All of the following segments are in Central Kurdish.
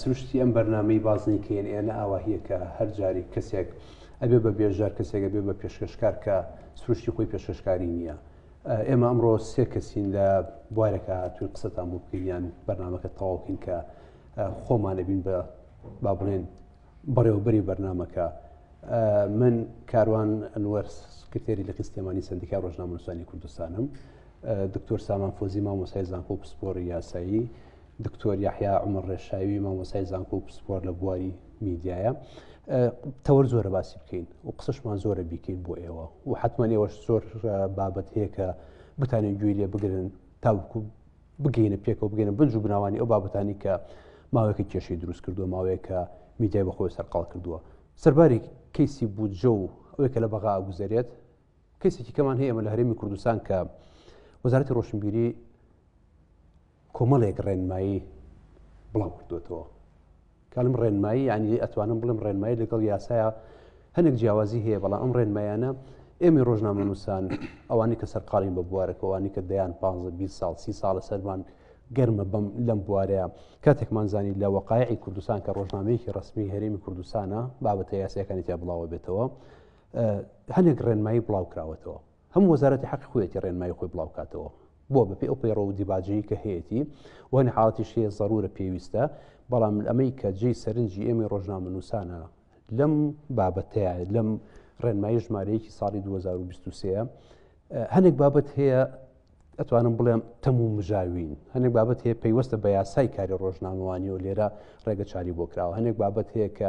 سروشتی ئەم بەرنامەی بازنەی کە ئێن ئێنە ئاواهیە کە هەر جاریک کەسێک ئەبێ بە بێژار کەسێکە بێ بە پێشکەشکار کە سروشتی خۆی پێشکەشکاری نییە ئێمە ئەمڕۆ سێ کەسین لە بوارەکە هاتوین قسەتان بۆ بکەین یان بەرنمەکە تەواوکەین کە خۆمانەبین بە با بڵێن بەڕێوەبەری بەرنمەکە من کاروان ئەنوەر سکرتێری لە قستێمانی سندیکا ڕۆژنامەنووسانی کوردستانم دکتۆر سامان فۆزی مامۆسای زانکۆ و پسپۆری یاسایی دکتۆر یحیا عمر ڕێشاوی مامۆسای زانکۆ و پسپۆر لە بواری میدیایە تەوەر زۆرە باسی بکەین و قسەشمان زۆرە بیکەین بۆ ئێوە و حتممە ئێوەش زۆر بابەت هەیە کە بتانێن گوێی لێ بگرن تاوکو بگەینە پێکەوە بگەینە بنج و بناوانی ئەو بابەتانی کە ماوەیەکە کێشەی دروست کردووە ماوەیەکە میدیای بەخۆی سەرقاڵ کردووە سەرباری کەیسی بودجە و ئەوەی کە لە بەغا گوزارێت کەسێکی کەمان هەیە ئەمە لە هەرێمی کوردستان کە وەزارەتی ڕۆشنبیری کۆمەڵێک ڕێنمایی بڵاو کردوێتەوە کەلم ڕێنمایی یعنی ئەتوانم بڵم ڕێنمایی لەگەڵ یاسایە هەنێک جیاوازی هەیە بەڵام ئەم ڕێنمایانە ئێمە ڕۆژنامە نووسان ئەوانی کە سەرقاڵین بە بوارەکەوانی کە دەیان 15 ساڵ سی ساڵە سەرمان گەرمە بەم لەم بوارەیە کاتێکمان زانی لە وەقاعی کوردستان کە ڕۆژنامەیەکی ڕسمی هەرێمی کوردستانە بابەتە یاسیەکانی تیا بڵاوە بێتەوە هەنێک ڕێنمایی بڵاو کراوەتەوە هەموو وەزارەتی حەقی خۆیەتی ڕێنمایی خۆی بڵاو کاتەوە بۆ بەپێ ئەو پەیڕە و دیباجەیە کە هەیەتی وەنە حاڵەتیش هەیە ضرورە پێویستە بەڵام ئەمەی کە جێی سەرنجی ئێمەی ڕۆژنامەنووسانە لەم بابەتەیە لەم ڕێنمایی ژمارەیەکی ساڵی 2023 هەنێک بابەت هەیە ئەتوانم بڵێم تەم و مژاوین هەنێک بابەت هەیە پەیوەستە بە یاسای کاری ڕۆژنامەوانی و لێرە ڕێگە چاری بۆ کراوە هەنێک بابەت هەیە کە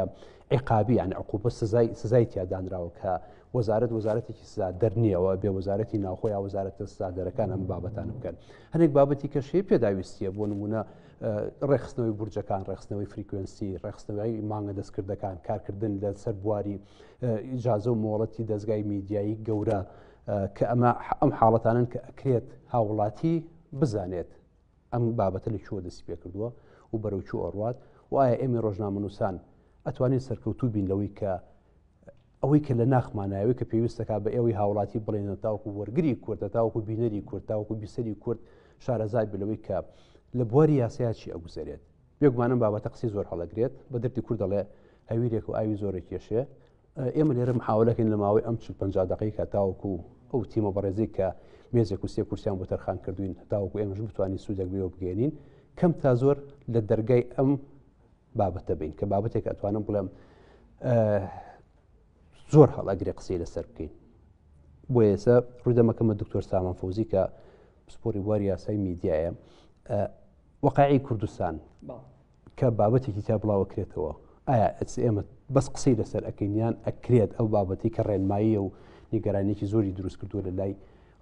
عقابی یان عقوبە سزای سزای تیادانراوە کە وەزارت وەزارەتێکی سزا دەرنیەوە بێ وەزارەتی ناوخۆ یا وەزارەتە سزادەرەکان ئەم بابەتان بکەن هەنێک بابەتی کەشەیە پێداویستیە بۆ نمونە ڕێخستنەوەی بورجەکان ڕێخستنەوەی فریکوێنسی ڕێخستنەوەی مانگە دەستکردەکان کارکردن لە سەر بواری ئیجاازە و مۆڵەتی دەستگای میدیایی گەورە کە ئەمە ئەم حاڵەتانن کە ئەکرێت هاوڵاتی بزانێت ئەم بابەتە لە چوە دەست پێ کردووە و بەرەو چوو ئەڕات و ئایا ئێمە ڕۆژنامەنووسان ئەتوانین سەرکەوتوو بین لەوەی کە ئەوەی کە لە ناخمانایەوەی کە پێویستەکە بە ئێوەی هاوڵاتی بڵێنە تاوکو وەرگری کورد لە تاوکو بینەری کورد تاوکو بیسەری کورد شارەزای بلەوەی کە لە بواری یاسایا چی ئەگوزارێت بێگومانم بابەتە قسی زۆر هەڵەگرێت بە دەرتی کورد دەڵێ هەویرێک و ئاوی زۆرە کێشێ ئێمە لێرە محاولەکەین لە ماوەی ئەم چ پ دقی کە تاوەکو ئەو تیمە بەڕێزی کە مێزێک و سێ کورسیان بۆ تەرخان کردوین تاوەکو ئێمەش بتوانین سوودێک بێەوە بگەێنین کەم تا زۆر لە دەرگای ئەم بابەتە بین کە بابەتێک ئەتوانم بڵێم زۆر هەڵاگرێ قسەی لەسەر بکەین بۆ ئێسە ڕوودەمەکەمە دکتۆر سامان فوزی کە پسپۆری بواری یاسای میدیایە وەقاعی کوردستان کە بابەتێکی تیا بڵاوەکرێتەوە ئایا ئەمە بەس قسەی لەسەر ئەکەینیان ئەکرێت ئەو بابەتی کە ڕێنماییە و نیگەرانێکی زۆری دروست کردووە لە لای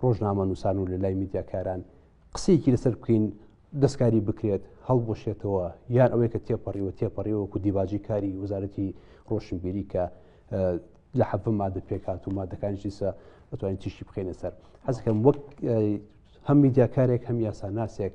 ڕۆژنامە نووسان و لە لای میدیاکاران قسەیەکی لەسەر بکەین دەستکاری بکرێت هەڵبشێتەوە یان ئەوەی کە تێپەڕیوە تێپەڕیەوە و دیباجی کاری وەزارەتی ڕۆشنبیری کە لە حەفە مادە پێکات و مادەکان جیسە ئەتوانین تیشی بخێنە سەر حەزەکەم وەک هەم میدیاکارێک هەم یاساناسێک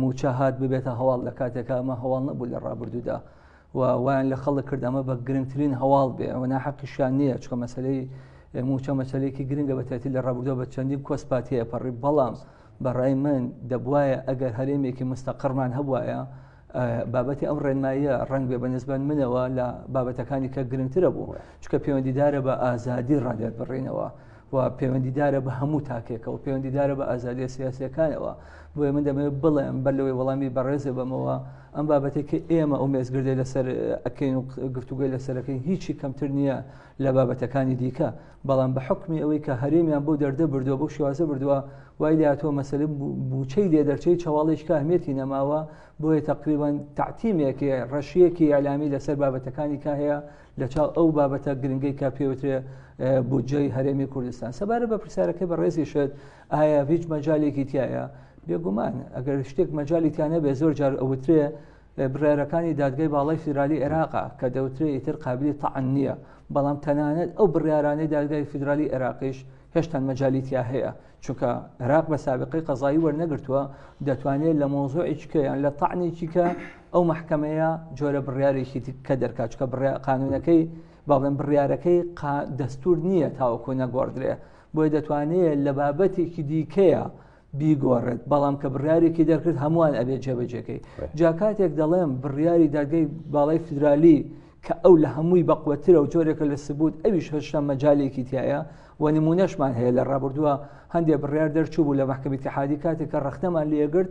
موچە هات ببێتە هەواڵ لە کاتێکا ئەمە هەواڵ نەبوو لە ڕابردوودا و وایان لە خەڵک کرد ئەمە بە گرنگترین هەواڵ بێ ئەوە ناحەقیشیان نییە چکە مەسلەی موچە مەسلەیەکی گرنگە بەتێتی لە ڕابردووە بە چەندی کۆسپات هەیە پەڕی بەڵام بەڕای من دەبواە ئەگەر هەرێمێکی مستەقڕمان هەبواە بابەتی ئەم ڕێنماییە ڕنگ بێ بەنسبەن منەوە لە بابەتەکانی کە گرنگترە بوو چکە پەیوەندیدارە بە ئازادی ڕادێت بڕینەوە و پەیوەندیدارە بە هەموو تاکێکە و پەیوەندیدارە بە ئازادیە سیاسەکانەوە بۆیە من دەمێ بڵێم بەر لەوەی وەڵامی بەڕێزە بەمەوە ئەم بابەتێک کە ئێمە ئەو مێزگردێ لەسەر ئەکەین و گفتوگوی لەسەرەکەی هیچی کەمتر نییە لە بابەتەکانی دیکە بەڵام بە حکمی ئەوەی کە هەرێمیان بۆ دەردە بردووە بۆ شوازە بردووە وای لاتوە مەسلە بچەی لێ دەرچەی چاواڵێک کاهمێتی نەماوە بۆیە تقریبان تعتیمێکی ڕەشیەکی ئەلامی لەسەر بابەتەکانی کا هەیە لەچاو ئەو بابەتە گرنگەی کە پێوترێ بودجەی هەرێمی کوردستان سەبارە بە پرسیارەکە بە ڕێزی شت ئایا هیچ مەجالێکی تایە بێگومان ئەگەر شتێک مەجای تیانە بێ زۆر جار ئەوترێ بڕارەکانی دادگای باڵای فیدرالی عێراقا کە دەوترێ ئیتر قابلی تەعن نییە بەڵام تەنانەت ئەو بڕارانەی دادگای فیدرالی عێراقیش هێشتان مەجای تیا هەیە چونکە عێراق بە سابقی قەزایی وەرنەگرتووە دەتوانێت لە مۆزۆ ئیچکەیان لە تەعنێکیکە ئەو مەحکەمەیە جۆرە بڕیارێکی کە دەرکات چکە قانونەکەی باڵێن بڕیارەکەی دەستور نییە تاوەکو نەگۆڕدرێ بۆی دەتوانێت لە بابەتێکی دیکەیە بیگۆڕێت بەڵام کە بڕارێکی دەرکرد هەمووان ئەبێت جێبەجێەکەی جاکاتێک دەڵێم بڕیاری دەرگەی باڵی فیدرالی کە ئەو لە هەمووی بەقوەترە و جۆرێکە لە سبوت ئەویش هەشتا مەجالێکی تایە و نمونەشمان هەیە لە ڕابردووە هەندێک بڕیار دەرچوو بوو لە محکمەتی حادی کاتێک کە ڕختەمان لێگرت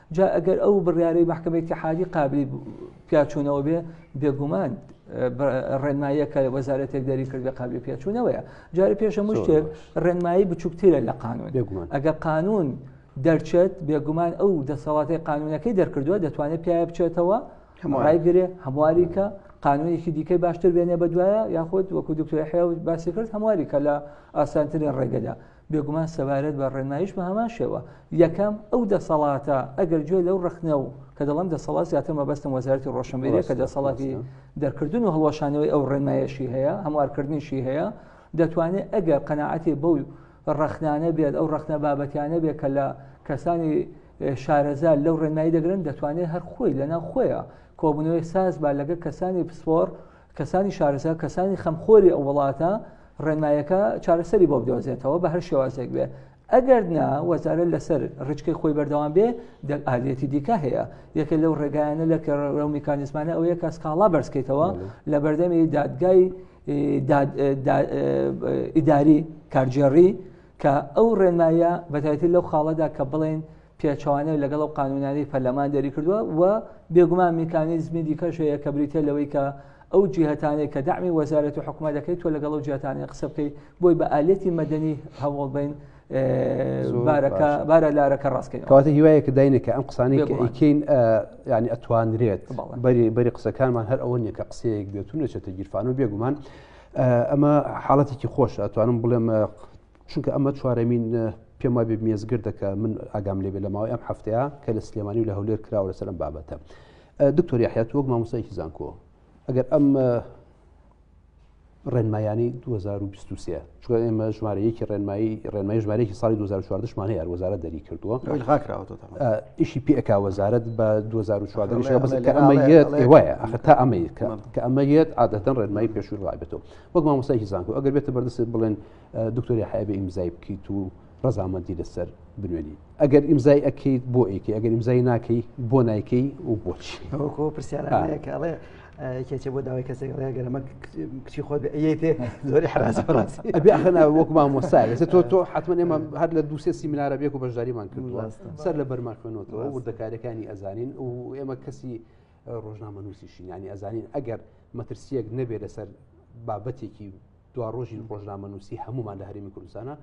جا ئەگەر ئەو بڕیارەی مەحکەمەی تحادی قابلی پیاچوونەوە بێ بێگومان ڕێنماییەکە وەزارەتێک دەری کرد بە قابلی پێچوونەوەیە جارە پێشە مشتێک ڕێنمایی بچووکترە لە قانون بێگومان ئەگە قانون دەرچێت بێگومان ئەو دەسەڵاتی قانونەکەی دەرکردووە دەتوانێت پیاە بچێتەوە ڕایگرێ هەمواریکە قانونێکی دیکەی باشتر بێنێ بە دوایە یاخود وەکو دکتۆر حیا باسی کرد هەمواریکە لە ئاسانترین ڕێگەدا بێگومان سەبارەت بە ڕێنمایش بە هەمان شێوە یەکەم ئەو دەسەڵاتە ئەگەر گوێ لەو ڕخنە و کە دەڵم دەسەڵات زیاتر مەبەستم وەزارەتی ڕۆشنبیری کە دەسەڵاتی دەرکردن و هەڵوەشانەوەی ئەو ڕێنمایەشی هەیە هەموارکردنیشی هەیە دەتوانێت ئەگەر قەنەعەتی بەو ڕخنانە بێت ئەو ڕخنە بابەتیانە بێت کە لە کەسانی شارەزا لەو ڕێنمایی دەگرن دەتوانێت هەر خۆی لەنا خۆیە کۆبنەوەی ساز با لەگە کەسانی پسپۆر کەسانی شارەزا کەسانی خەمخۆری ئەو وڵاتە ڕێنمایەکە چارەسەری بۆ بدۆزێتەوە بە هەر شێوازێک بێ ئەگەر نا وەزارە لەسەر ڕچکەی خۆی بەردەوام بێ ئالەتی دیکە هەیە یەکە لەو ڕێگایانە لە کەڕە و میکانزمانە ئەوەیە کە سکاڵا بەرزکەیتەوە لە بەردەمی دادگای ئیداری کارجێڕی کە ئەو ڕێنمایە بەتایەتی لەو خاڵەدا کە بڵێن پێچەوانەو لەگەڵ ئەو قانونانەی پەرلەمان دەری کردووە و بێگومان میکانیزمی دیکەش هەیە کە بریتە لەوەی کە ئەو جیهتانەی کە دامی وەزارەت و حکومە دەکەیت تۆ لەگەڵ و جیاتانی قسە بکەیت بۆی بە ئالێتی مەدەنی هەوڵ بین بارەکە بارە لارەکە ڕاستکەین کەواتە هیوایە کە داینێکە ئەم قسانی ئەیکەین ینی ئەتوانرێت بەری بەری قسەکانمان هەر ئەوە نیە کە قسەیەک بێتون نەچێتە گیرفان و بێگومان ئەمە حاڵەتێکی خۆش ئەتوانم بڵێم چونکە ئەمە چوارەمین پێم وابێ مێزگردە کە من ئاگام لێبێ لە ماوەی ئەم هەفتەیە کە لە سلێمانی و لە هەولێر کراوە لەسەر ئەم بابەتە دکتۆری حیات وەک مامۆسایکی زانکۆ ئەگەر ئەم ڕێنمایانی 2023 چگە ئێمە ژمارەیەکی ڕێنمایی ڕێنمای ژمارەیەکی ساڵی 2014مانە یار وەزارە دەری کردووە ئیشی پێکا وەزارت بە 2014 وایە ئەخ تا ئەمەیە کە ئەمە یەت عادەتەن ڕێنمایی پێشور ڕابێتەوە وەک مامۆسایکی زانکو ئەگەر بێتە بەردەست بڵێن دکتۆری حیابێ ئیمزای بکەیت و ڕزامەندی لەسەر بنوێنی ئەگەر ئیمزای ئەکەیت بۆ ئەیکی ئەگەر ئیمزای ناکەی بۆ نایکەی و بۆچ ئەوکۆ پرسیارەکەڵێ کێچێ بۆ داوای کەسێک گەرەمە کچی خۆت ئەیتێ زۆری حرانا وەک مامۆسای لەسە تۆ تۆ حتممە ئێمە هەر لە دووسێ سیمینارە بێک و بەشداریمان کردووە سەر لە بەرمان خوێنەوە وردەکارەکانی ئەزانین و ئێمە کەسی ڕۆژنامە نووسیشین ینی ئەزانین ئەگەر مەترسیەک نەبێ لەسەر بابەتێکی دوا ڕۆژی ڕۆژنامەنووسی هەمومان لە هەرمی کوردستانە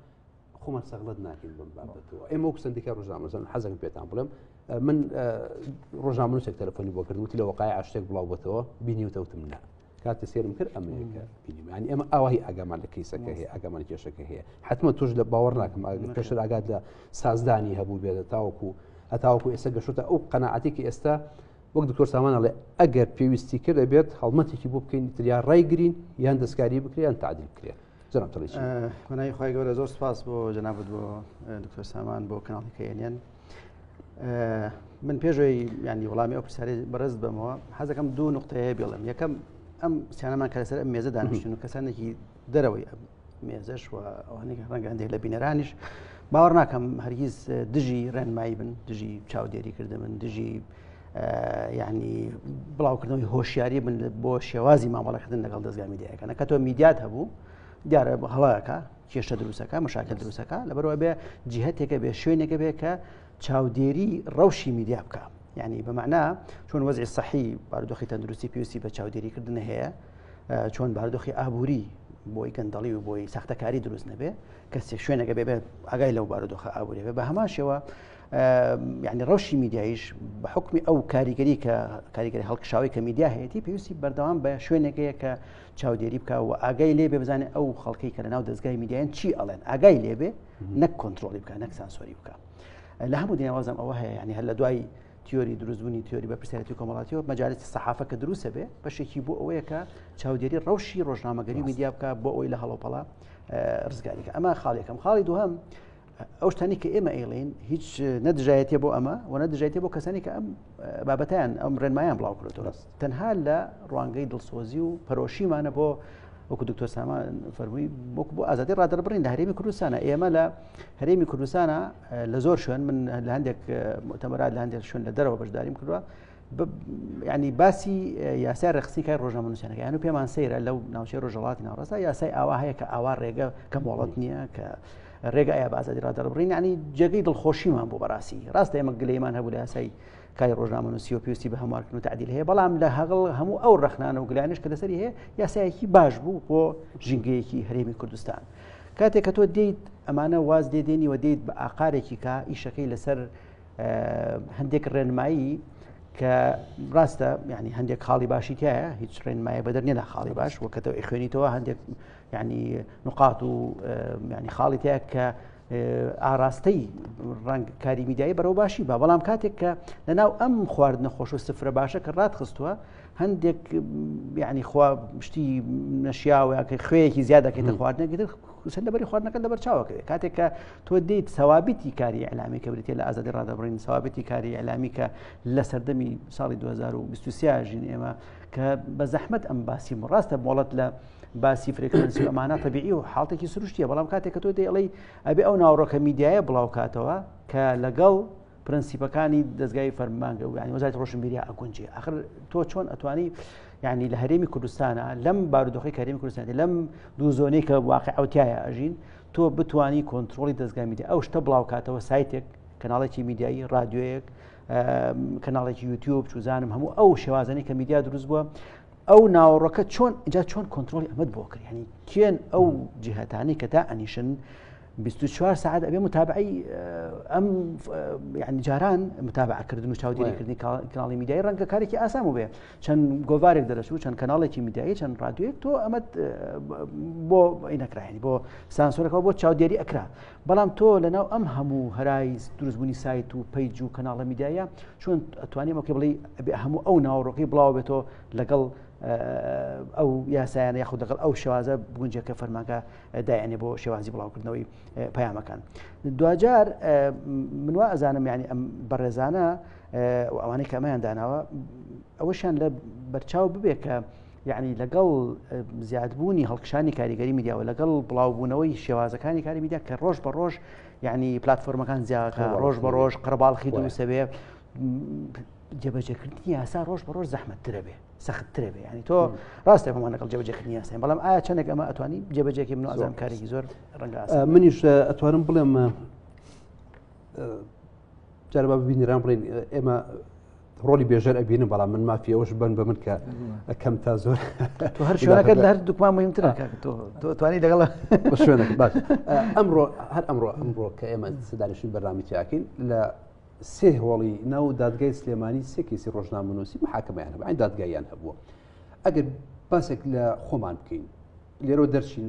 خۆمان سەغڵت ناکەین بم بابەتەوە ئێمە و سندیکا ڕژامەزن حەزم پێتان بڵێم من ڕۆژنامەنووسێک تەلفۆنی بۆ کردوتی لە وقای عشتێک بڵاوبەتەوە بینی و تەوتم نا کاتە سێرم کرد ئەمریکا بینیمانی ئەمە ئاوای ئەگەمان لە کەیسەکە هەیە ئەگەمان کێشەکە هەیە حتممە توش لە باوەڕ ناکەم پێشتر ئاگات لە سازدانی هەبوو بێت تاوەکو هەتاوەکو ئێستا گەشتە ئەو قەنەعاتێکی ئێستا وەک دکتۆر سامان ئەڵێ ئەگەر پێویستی کرد دەبێت هەڵمەتێکی بۆ بکەین تریا ڕای گرین یان دەستکاری بکریان تعدیل بکرێت جناب تڵی منای خخوای گەورە زۆر سپاس بۆ جنابەت بۆ دکتۆر سامان بۆ کەناڵەکەیان من پێشەوەی ینی وڵامی ئەو پرسیاری بەرز بمەوە حەزەکەم دوو نقطەیە بڵم یەکەم ئەم سیانەمان کە لەسەر ئەم مێزە دانیشتن و کەسانێکی دەرەوەی ئەم مێزش و ئەوانێک ڕەنگە هەندێک لە بینەرانیش باوەڕ ناکەم هەرگیز دژی ڕێنمایی بن دژی چاودێری کردە من دژی ینی بڵاوکردنەوەی هۆشیاری من بۆ شێوازی مامەڵەکردن لەگەڵ دەستگا میدیایەکەە کە تۆ میدیات هەبوو دیارە هەڵەکە کێشە دروستەکە مەشاکە دروستەکە لە بەرەوە بێ جیهتێکە بێ شوێنێکە بێ کە چاودێری ڕەوشی میدیا بکە یعنی بەمەنا چۆن وەزی سەحی باردۆخی تەندروستی پێویستی بە چاودێریکردن هەیە چۆن باردۆخی ئابووری بۆی گەندەڵی و بۆی ساختەکاری دروست نەبێ کەسێک شوێنەکە بێ ئەگای لەو بارودۆخە ئابووری بە هەماشەوە یعنی ڕەوشی میدیایش بە حکومی ئەو کاریگەری کە کاریگەری هەڵکشاوی کە میدیا هەیەی پێویستی بەردەوام بە شوێنێکەیە کە چاودێری بکە و ئاگای لێ بێ بزانێت ئەو خەڵکی کە لە ناو دەستگای میدیان چی ئەڵێن ئاگای لێ بێ نەک کۆنتترۆلی بکە نەک سانسۆری بکە لە هەموو دنیاوازم ئەوە هەیە ینی هەر لە دوای تیۆری دروستبوونی تیۆری بە پرسیارەتی کۆمەڵاتیەوە مەجارێتی سەحافە کە دروستە بێ بەشێکی بۆ ئەوەیە کە چاودێری ڕەوشی ڕۆژنامەگەری میدیا بکە بۆ ئەوی لە هەڵۆپەڵا ڕزگاریکە ئەمە خاڵێکم خاڵی دوهەم ئەو شتانی کە ئێمە ئەیڵین هیچ نەدژایەتێ بۆ ئەمە و نەدژایەتێ بۆ کەسانی کە ئەم بابەتیان ئەم ڕێنمایان بڵاو کرێتەوە تەنها لە ڕوانگەی دڵسۆزی و پەرۆشیمانە بۆ وەکو دکتۆر سامان فەرمووی وەک بۆ ئازادی ڕادەربڕین لە هەرێمی کوردستانە ئێمە لە هەرێمی کوردستانە لە زۆر شوێن من لە هەندێک متەمەرات لە هەندێک شوێن لە دەرەوە بەشداریم کردووە ینی باسی یاسای ڕخسی کای ڕۆژە منوسیانەکەیان و پێمان سەیرە لەو ناوچەی ڕۆژەڵاتی ناڕستا یاسای ئاوا هەیە کە ئاوا ڕێگە کە مۆڵەت نییە کە ڕێگە ئایا بازادی ڕادەڕبڕین ینی جێگەی دڵخۆشیمان بۆ بەڕاستی ڕاستە ئێمە گلەیمان هەبوو لە یاسای کاری ڕۆژنامەنووسی و پێویستی بە هەموارکردن و تعدیل هەیە بەڵام لە هەغڵ هەموو ئەو ڕخنانە و گلانش کە لەسەری هەیە یاسایەکی باش بوو بۆ ژینگەیەکی هەرێمی کوردستان کاتێک کە تۆ دێیت ئەمانە واز لێ دێنی و دێیت بە ئاقارێکی کا ئیشەکەی لەسەر هەندێک ڕێنمایی کە ڕاستە ینی هەندێک خاڵی باشی تایە هیچ ڕێنمایە بەدەر نێدا خاڵی باش وەکەتەوە ئەخوێنیتەوە هەندێک یعنی نقاط و یعنی خاڵی تیا کە ئاراستەی ڕنگ کاری میدایی بەرەو باشی بە بەڵام کاتێک کە لەناو ئەم خوارد نەخۆش و سفرە باشە کە ڕات خستووە هەندێک ینی خوا شتی نەشیاوەکە خوێیەکی زیادەکەی دەخواردنەگەتر سند لەبەری خواردنەکە لەبەر چاوەکەێت کاتێک کە تۆ دیت سەوابیتی کاری ئەلامی کە بریتە لە ئازادی ڕادەبڕین سەوابەتی کاری ئەلامی کە لە سەردەمی ساڵی 2023 ژین ئێمە کە بە زەحمت ئەم باسی ڕاستە بۆڵەت لە باسی فرێکانسی ئەمانە تەبیعی و حڵاتێکی سروشتیە بەڵام کاتێک کە تۆ دەڵی ئەبێ ئەو ناوڕۆکە میدیایە بڵاوکاتەوە کە لەگەڵ پرەنسیپەکانی دەستگای فەرمانگە و ینی وەزای ڕۆشنبیری ئەگونجێ ئەخر تۆ چۆن ئەتوانی ینی لە هەرێمی کوردستانە لەم بارودۆخی کارێمی کوردستان لەم دوو زۆنەی کە واقع ئەوتایە ئەژین تۆ بتانی کۆنتترۆلی دەستگای میدیا ئەو شتە بڵاوکاتەوە سایتێک کەناڵێکی میدیایی رادیۆیەک کەناڵێکی یوتیوب چوزانم هەموو ئەو شێوازنی کە میدیا دروست بووە ئەو ناوەڕۆکە چۆن جا چۆن کۆنتترۆلی ئەمەد بۆ کرد ینی کێن ئەو جیهتانی کە تا ئەنیشن 24 ساعت ئەبێ متابعی ئەم ینی جاران متابعکردن و چاودێریکردنی کاناڵی میدیای ڕەنگە کارێکی ئاسان بێ چەند گۆوارێک دەرەچ و چەند کەناڵێکی میدیایی چەند ڕادوێک تۆ ئەمە بۆ نەکراین بۆ سانسۆرەکەەوە بۆ چاودێری ئەکرا بەڵام تۆ لەناو ئەم هەموو هەرای دروستبوونی سایت و پەیج و کەناڵە میدایە چۆن ئەتوانیم ئەوکە بڵی هەموو ئەو ناوەڕۆکی بڵاو بێتەوە لەگەڵ ئەو یاسایانە یاخود دەگەڵ ئەو شێوازە بگونجە کە فەرمانگە دایانێ بۆ شێوازی بڵاوکردنەوەی پەیامەکان دوجار منوا ئەزانم یعنی ئەم بەڕێزانە ئەوانەی کەمەیان داناوە ئەوەشان لە بەرچاو ببێت کە یعنی لەگەڵ زیادبوونی هەڵکشانی کاریگەری میدیاوە لەگەڵ بڵاوبوونەوەی شێوازەکانی کاری میدیا کە ڕۆژ بە ڕۆژ یعنی پلتفۆرمەکان زیاکە ڕۆژ بە ڕۆژ قڕباڵخی دووسەوێ جێبەجێکردنی یاسا ڕۆژ بە ڕۆژ زەحمەتترە بێ سەختترە بێ ینی تۆ ڕاستێک بەمان لەگەڵ جێبەجێکردنی یاسای بەڵام ئایا چەندێک ئەمە ئەتوانی جێبەجێکی من ئازان کارێکی زۆر ڕەنگ منیش ئەتوانم بڵێم جاربا ببینران بڵێن ئێمە ڕۆلی بێژەر ئەبینم بەڵام من مافی ئەوش بن بە من کە ئەکەم تا زۆر تو هەر شوێنەکەت لە هەر دوکمان مهمترە توانی لەگەڵ شوێنە باش ئەمڕۆ هەر ئەمڕۆ ئەمڕۆ کە ئێمە سدانشین بەرنامەیاکەین لە سێ هۆڵی ناو دادگای سلێمانی سێکیسی ڕۆژنامەنووسی محاکەمیان هەبوو دادگایان هەبووە ئەگەر باسێک لە خۆمان بکەین لێرە دەرچین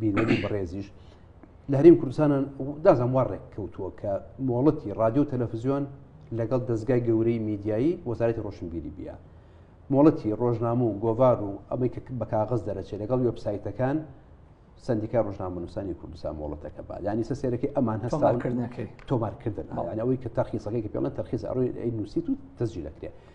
بینەری بەڕێزیش لە هەریم کوردستانە دازان وا ڕێک کەوتووە کە مۆڵەتی رادیو تەلەفزیۆن لەگەڵ دەستگای گەورەی میدیایی وەزارەتی ڕۆشنبیری بیا مۆڵەتی ڕۆژنامە و گۆڤار و ئەمەی کە بە کاغز دەرەچێت لەگەڵ وبسایتەکان سندیکا ڕژنامەنووسانی کوردستان مۆڵەتەکە با ینی سە سێرەکەی ئەمان هەستاکردنەکەی تۆمارکردن ئەوەی کە تەرخیسەکەی کە پێڵەن تەرخیز ئەڕۆی نووسیت و دەستجی دەکرێت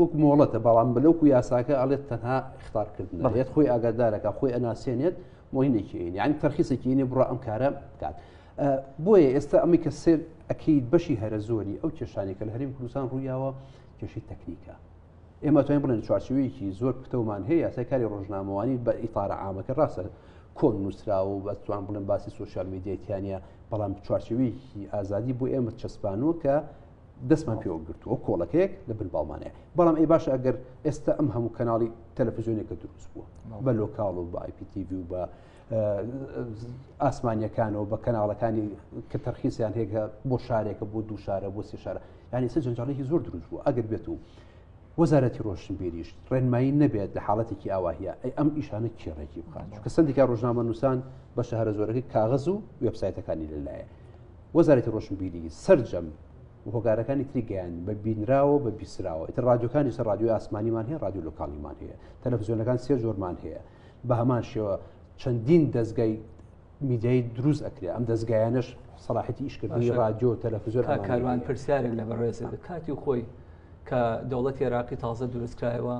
وەک مۆڵەتە بەڵام بلوکو یاساکە ئەڵێت تەنها اختارکردن بەڵێت خۆی ئاگادارەکە خۆی ئەناسێنێت مهینێکی یعنی تەرخیسێکیینی بڕ ئەم کارە بکات بۆیە ئێستا ئەمی کە سێر ئەکییت بەشی هەرە زۆری ئەو کێشانی کە لە هەریم کوردستان ڕوویاوە کێشی تەکنیکە ئێمە توانین بڵێن چوارچوەیەکی زۆر پتەومان هەیە یاسای کاری ڕۆژنامەوانی بە ئیتارە ئامەکە ڕاستە کۆن نووسراوە و بەتوان بڵێن باسی سوسیال میدیتیانە بەڵام چوارچوەیەکی ئازادی بۆ ئێمە چەسپانوە کە دەستمان پێوە گرتووە کۆڵەکەیەک لە بن باڵمانەیە بەڵام ئەی باشە ئەگەر ئێستا ئەم هەموو کەناڵی تەلەفزیۆنێکە دروست بووە بە لۆکاڵ و بە آیPTV و بە ئاسمانیەکانەوە بە کەناڵەکانی کە تەرخیسیان هێکە بۆ شارێکە بۆ دوو شارە بۆ سێ شارە یانی سە جەنجاڵێکی زۆر دروست بوو ئەگەر بێت و وەزارەتی ڕۆشنبیریش ڕێنمایی نەبێت لە حاڵەتێکی ئاواهە ئەی ئەم ئیشانە کێڕێکی بخات چکە سندیکا ڕۆژنامە نووسان بە شەهرە زۆرەکەی کاغز و وبسایتەکانی لەلایە وەزارەتی ڕۆشنبیری سرجەم هۆکارەکانی تری گەیان بە بینراوە بە بیسراوە ئیتر ڕادیۆکانی سەر ڕادیۆی ئاسمانیمان هەیە ڕادیو لوکانیمان هەیە تەلەفزیۆنەکان سێ زۆرمان هەیە بە هەمان شێوە چەندین دەستگای میدیای دروست ئەکرێ ئەم دەستگایانش سەڵاحەتی ئیشکردنی ڕادیۆ تەلەفزیۆر کاروان پرسیارێک لە بەڕێزە کاتی خۆی کە دەوڵەتی عێراقی تازە دروستکرایەوە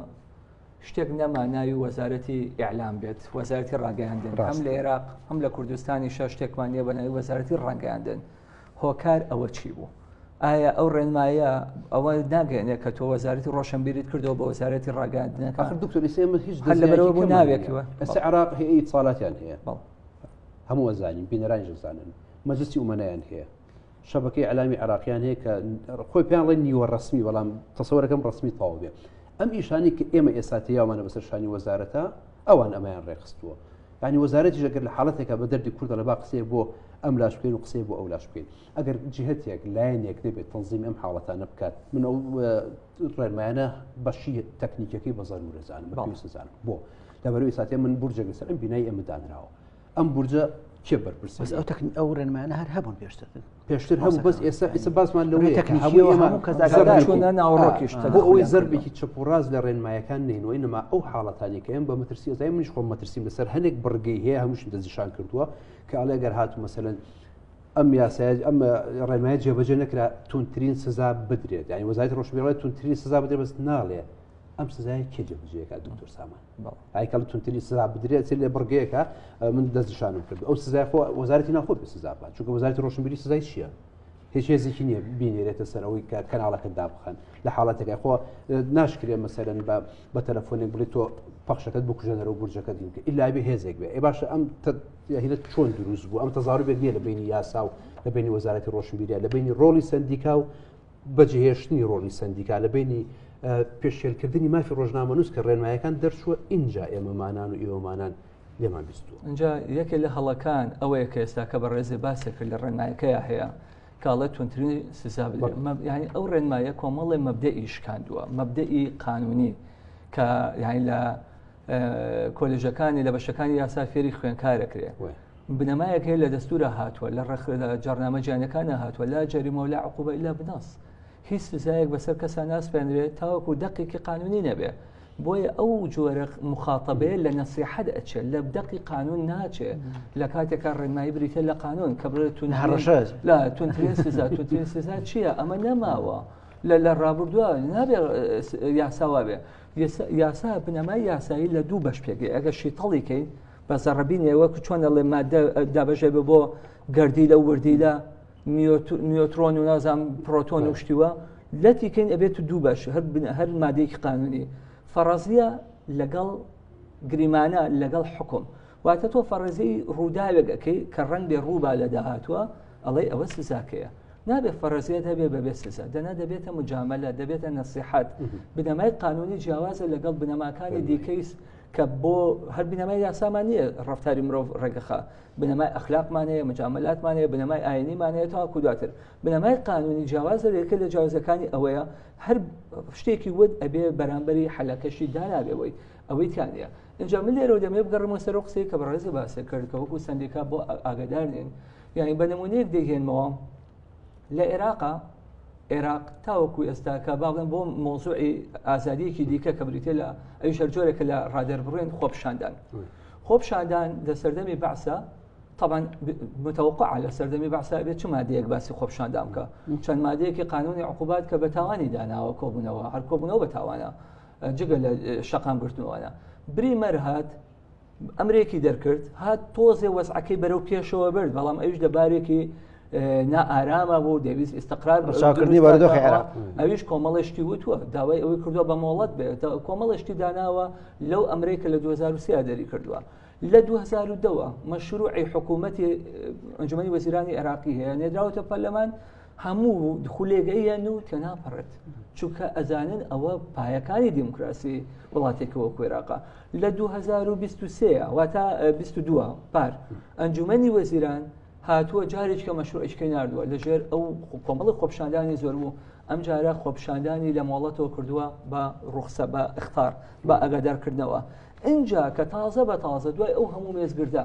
شتێک نەما ناوی وەزارەتی ئیعلام بێت وەزارەتی ڕاگەیاندن هەم لە عێراق هەم لە کوردستانی شە شتێکمان نیە بە ناوی وەزارەتی ڕاگەیاندن هۆکار ئەوە چی بوو ئایا ئەو ڕێنمایە ئەوە ناگەێنێ کە تۆ وەزارەتی ڕۆشنبیریت کردەوە بە وەزارەتی ڕاگەاندنەکە دکتۆری سێمە هیچ لەبەرەوە ناوێکەوە ئەسە عراق هەیە ساڵاتیان هەیە هەموو وەزانین بینەرانی زانن مەجستی ومەنایان هەیە شەبەکەی ئەلامی عراقییان هەیە کە خۆی پێیان ڵێ نیوە ڕسمی بەڵام تەسەوەەکەم ڕسمی تەواو بێ ئەم ئیشانی کە ئێمە ئێستا تیاوانە بەسەر شانی وەزارەتە ئەوان ئەمایان ڕێخستووە ینی وەزارەتی ژەگەر لە حاڵەتێکە بە دەردی کوردە لە با قسەیە بۆ ئەم لاش بکەین و قسەیە بۆ ئەو لاش بکەین ئەگەر جهتێک لایەنێک نەبێت تەنزیم ئەم حاڵەتانە بکات من ئەو ڕێمایانە بەشی تەکنیکەکەی بە زەرورەزانم بەزانم بۆ لەبەروی ساتێ من بورجێک لەسەر ئەم بینای ئەمەدانراوە ئەم بورجە کێ بەرپرس بەس ئەو تەکن ئەو ڕێنمانە هەر هەبوون پێشتر پێشتر هەبوو بەس ئێستا ئیسە باسمان لە ناوڕۆکیشتە بۆ ئەوەی زەربێکی چپ و ڕاز لە ڕێنمایەکان نینەوەی نما ئەو حاڵەتانی کە ئەم بە مەترسی ئەزای منیش خۆم مەترسیم لەسەر هەندێک بڕگەی هەیە هەمووشم دەزیشان کردووە کە ئەڵێ گەر هاتو مەسەن ئەم یاسای ئەم ڕێنمای جێبەجێ نەکرا تونترین سزا بدرێت یانی وەزای ڕۆژبیڵێت تونترین سزا بدرێت بەس ناڵێ ئەم سزای کێ جێبجێکە دکتۆر سامان ئایکەڵ تونتری سزا بدرێت چ لێ بڕگەیەکە من دەستشانم کرد ئەو سزای خۆ وەزارەتی ناخۆت سزا بات چونکە وەزارەتی ڕۆشنبیری سزای چییە هیچ هێزێکی نییە بینێرێتە سەرەوەی کە کەناڵەکە دابخەن لە حاڵەتەکە خۆ ناشکرێ مەسەرن بە بە تەلەفۆنێک بڵێت تۆ پەخشەکەت بکوژێنەرەوە گورجەکە دیم کە ئللاوی هێزێک بێ ئێ باشە ئەم هینە چۆن دروست بوو ئەم تەزاربێک نییە لە بینی یاسا و لە بینی وەزارەتی ڕۆشنبیرە لە بینی ڕۆڵی سندیکا و بەجێهێشتنی ڕۆڵی سندیکا لە بینی پێشێلکردنی مافی ڕۆژنامەنووس کە ڕێنمایەکان دەرچووە ئینجا ئێمەمانان و ئێوەمانان لێمان بیستوە اینجا یەکێ لە هەڵەکان ئەوەیە کە ئێستا کە بە ڕێزێ باسێک لە ڕێنمایەکەیە هەیە کاڵێت تونترین سزا ینی ئەو ڕێنمایە کۆمەڵێ مەبدە ئیشکاندووە مەبدەئی قانونی کە یانی لە کۆلژەکانی لە بەشەکانی یاسا فێری خوێنکارەکرێ بنەمایەک هەیە لە دەستورە هاتووە لە ڕخ لە جارنامە جیانەکانە هاتووە لا جەریمە و لا عقوبە لا بناس هیچ سزایەک بەسەر کەسان ناسپێنرێت تاوەکو دقێکی قانونی نەبێ بۆیە ئەو جۆرە مخاتەبەیە لە نەسیحەت ئەچێت لە بدەقی قانون ناچێت لە کاتێکا ڕێنمایی بریتە لە قانون کە بڵێت تون هەڕەشە لە تونترین سزا تونترین سزا چییە ئەمە نەماوە لە لە ڕابردووە نابێ یاساوا بێ یاسا بنەمای یاسایی لە دوو بەش پێگەی ئەگە شیتەڵی کەین بە زەڕبینەوە چۆن دەڵێ مادە دابژێ بە بۆ گردی لە وردی لە نیۆترۆن و نازام پرۆتۆن و شتیوە لەتی کەین ئەبێت و دوو بەش هەر بنە هەر مادەیەکی قانونی فەڕازیە لەگەڵ گریمانە لەگەڵ حکوم واتە تۆ فەڕێزی ڕووداوێکەکەی کە ڕەنگ بێ ڕووبا لە داهاتوە ئەڵێی ئەوە سزاکەیە نابێ فەڕزیت هەبێ بەبێ سزا دەنا دەبێتە مجاملە دەبێتە نەسیحات بنەمای قانونی جیاوازە لەگەڵ بنەماکانی دیکەیس کە بۆ هەر بنەمای یاسامان نییە ڕفتاری مرۆڤ ڕێگەخە بنەمای ئەخلاقمانەیە مجاملاتمانەیە بنەمای ئاینیمانەیە تاکو دواتر بنەمای قانونی جیاوازە لەکە لە جیاوازەکانی ئەوەیە هەر شتێکی ود ئەبێ بەرامبەری حلەکەشی دانابێەوەی ئەوەی تیا نیە ئەجا من لێرەوە دەمێ بگەڕمەوە سەر و قسەی کە بەڕێز و باسە کرد کە وەکو سندێکا بۆ ئاگادار نین یعنی بە نمونەیەک دەگەێنمەوە لە عێراقا عێراق تاوەکو ئێستا کە باڵێن بۆ مۆزوعی ئازادیەکی دیکە کە بریتە لە ئەوی شەرجۆرێکە لە ڕادەر بڕێن خۆپشاندان خۆپشاندان لە سەردەمی بەعسە طبعا متوقع لە سەردەمی بەعسا بێت چ مادەیەک باسی خۆپشاندان بکە چەند مادەیەکی قانونی عقوبات کە بە تاوانی داناوە کۆبوونەوە هەر کۆبوونەوە بە تاوانە جگە لە شەقام گرتنەوەە بری مەرهات ئەمرێکی دەرکرد هات تۆزێ وەزعەکەی بەرەو پێشەوە برد بەڵام ئەوش لە بارێکی نائارامە بۆ دەویست ئستقرار بەچاکردنی بەردۆخی عێراق ئەویش کۆمەڵێشتی وتووە داوای ئەوەی کردووە بە مۆڵەت بێت کۆمەڵێشتی داناوە لەو ئەمرەی کە لە 2023 دەری کردووە لە 2010ەوە مەشروعی حکوومەتی ئەنجومی وەزیرانی عێراقی هەیە نێدراوەتە پەرلەمان هەموو خولێک ئەیەن و تێنا پەڕێت چونکە ئەزانن ئەوە پایەکانی دیموکراسی وڵاتێکەوە کوێراقا لە 2023 واتە 22 پار ئەنجومەنی وەزیران هاتووە جارێککە مەشروعشکی نردووە لەژێر ئەو کۆمەڵی خۆپشاندانی زۆر بوو ئەم جارە خۆپشاندانی لە مۆڵەتەوە کردووە بە ڕوخسە بە اختار بە ئەگەدارکردنەوە اینجا کە تازە بە تازە دوای ئەو هەموو مێزگردە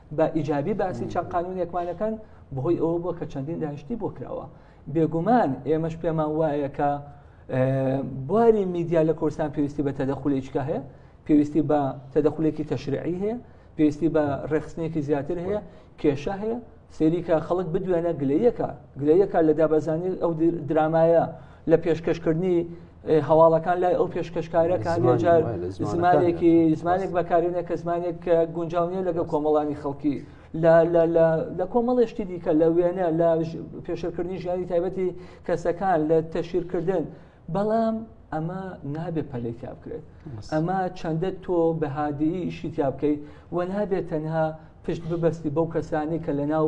بە ئیجابی باسی چەند قانونێکمان دەکەن بەهۆی ئەوە بووە کە چەندین داهشتی بۆ کراوە بێگومان ئێمەش پێمان وایە کە بواری میدیا لە کورسان پێویستی بە تەدەخولێکە هەیە پێویستی بە تەدەخولێکی تەشرعی هەیە پێویستی بە ڕێخستنێکی زیاتر هەیە کێشە هەیە سێریکە خەڵک بدوێنە گلەیەکە گلەیەکە لە دابەزانی ئەو درامایە لە پێشکەشکردنی هەواڵەکان لای ئەو پێشکەشکارەکان لەجار زمانێکی زمانێک بەکارێنە کە زمانێک کە گونجاونیە لەگە کۆمەڵانی خەڵکی لە کۆمەڵێشتی دیکە لە وێنە لە پێشەکردنی ژیانی تایبەتی کەسەکان لە تەشیرکردن بەڵام ئەمە نابێ پەلی تیا بکرێت ئەمە چەندە تۆ بەهادی ئیشی تیا بکەیت و نابێت تەنها پشت ببەستی بەو کەسانی کە لە ناو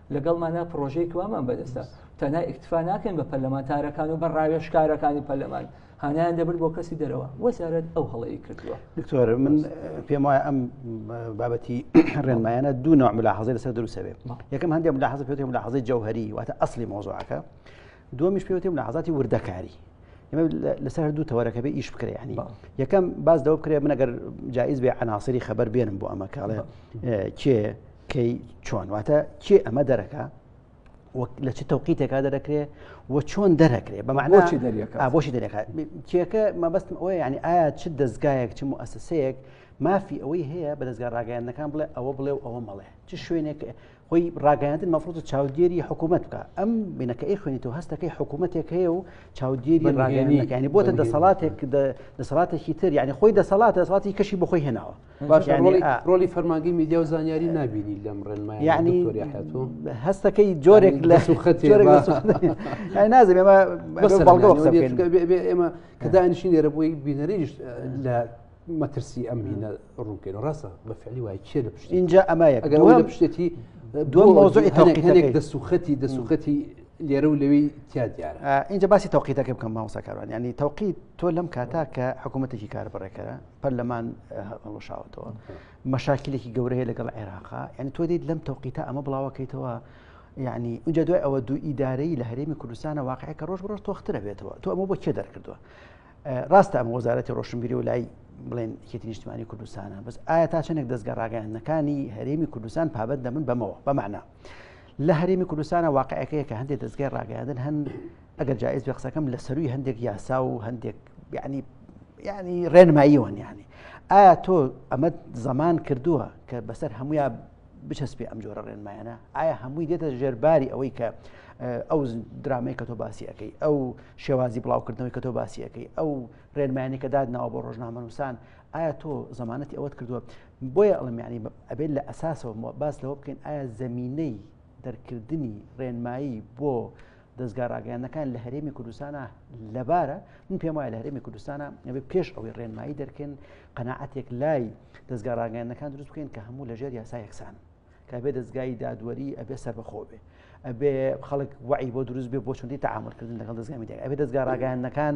لەگەڵمانە پرۆژەی کوامان بەدەستە تەنها ئیکتفا ناکەین بە پەرلەمانتارەکان و بە ڕاوێشکارەکانی پەرلەمان هانایان دەبرد بۆ کەسی دەرەوە وەزارەت ئەو هەڵەیە کردووە دکتۆر من پێم وایە ئەم بابەتی ڕێنمایانە دوو نوع ملاحظی لەسەر دروسەوێت یەکەم هەندێک ملاحظ پێێتی ملاحظی جەوهری واتە ئەسلی مۆزوعەکە دومیش پێوتی ملاحظاتی وردەکاری ئمە لەسەر دوو تەوەرەکە بێ ئیش بکرێ ینی یەکەم باز دەوە بکرێ منەگەر جایز بێ عناسری خەبەر بێنم بۆ ئەمە کاڵێ کێ کەی چۆن واتە کێ ئەمە دەرەکە لە چ تەوقیتێکا دەرەکرێ و چۆن دەرەکرێ بە معناچی دەریەکە بۆشی دەرەکە کێکە مەبستم ئەوە یعنی ئایا چ دەستگایەک چ موسسەیەک مافی ئەوەی هەیە بە دەستگا ڕاگەیاندنەکان بڵێ ئەوە بڵێ و ئەوە مەڵێ چ شوێنێک خۆی ڕاگەیاندن مەفرۆز چاودێری حکوومەت بکە ئەم بینەکە ئەی خوێنی تۆ هەستەکەی حکوومەتێک هەیە و چاودێری ڕاگەیانەکانی بۆتە دەسەڵاتێک دەسەڵاتێکی تر یعنی خۆی دەسەڵات دەسەڵاتی کەشی بخۆی هێناوە باش ڕۆلی فەرماگەی میدیا و زانیاری نبینی لەم ڕێنمای یعنی هەستەکەی جۆرێک لە سوخەتی نازم ئێمە ئێمە کەدانیشی لێرە بۆی بینەریش لە مەترسی ئەم هینە ڕوونکەین ڕاستە بە فعلی وای چێ لە پشت اینجا ئەمایە ئەگەر لە پشتێتی دوم مۆزۆی تاقیتەنێک دەسوخەتی دەسوخەتی لێرە و لەوی تیا دیارە اینجا باسی تەوقیتەکە بکەم ماوسەکاران ینی تەوقیت تۆ لەم کاتا کە حکوومەتێکی کار بڕێکەرە پەرلەمان هەڵوشاوەتەوە مەشاکلێکی گەورەیە لەگەڵ عێراقا یعنی تۆ دیت لەم تەوقیتە ئەمە بڵاوەکەیتەوە یعنی ئەجا دوای ئەوە دوو ئیدارەی لە هەرێمی کوردستانە واقعی کە ڕۆژ ڕۆژ تۆخترە بێتەوە تۆ ئەمە بۆ کێ دەرکردووە ڕاستە ئەم وەزارەتی ڕۆشنبیری و لای بڵێن کێتی نیشتمانی کوردستانە بەس ئایا تا چەندێک دەستگە ڕاگەیاندنەکانی هەرێمی کوردستان پابەت دەمن بەمەوە بەمانە لە هەرێمی کوردستانە واقعەکەیە کە هەندێک دەستگای ڕاگەیاندن هەن ئەگەر جائیز بێ قسەکەم لە سەرووی هەندێک یاسا و هەندێک یعنی یعنی ڕێنماییەوەن یعنی ئایا تۆ ئەمە زەمان کردووە کە بەسەر هەمویا بچەسپێ ئەم جۆرە ڕێنمایانە ئایا هەمووی دێتە ژێرباری ئەوەی کە ئەو درامەی کە تۆ باسیەکەی ئەو شێوازی بڵاوکردنەوەی کە تۆ باسیەکەی ئەو ڕێنمانی کە دادناوە بۆ ڕۆژنامەنووسان ئایا تۆ زمانەتی ئەوەت کردووە بۆیە ئەڵمیانی ئەبێت لە ئەساسەوە باس لەوە بکەین ئایا زمینەی دەرکردنی ڕێنمایی بۆ دەزگا ڕاگەیاندنەکان لە هەرێمی کوردستانە لەبارە من پێم وایە لە هەرێمی کوردستانە ئەبێ پێش ئەوەی ڕێنمایی دەرکەن قەنەعاتێک لای دەستگا ڕاگەیاندنەکان دروست بکەین کە هەموو لەژێر یاسا یەکسان کابێ دەستگای دادوەری ئەبێ سەربەخۆ بێ ئەبێ خەڵک وعی بۆ دروست بێ بۆ چوندی تعاملکردن لەگەڵ دەستگامی دەگە ئەبێ دەستگا ڕاگەیاندنەکان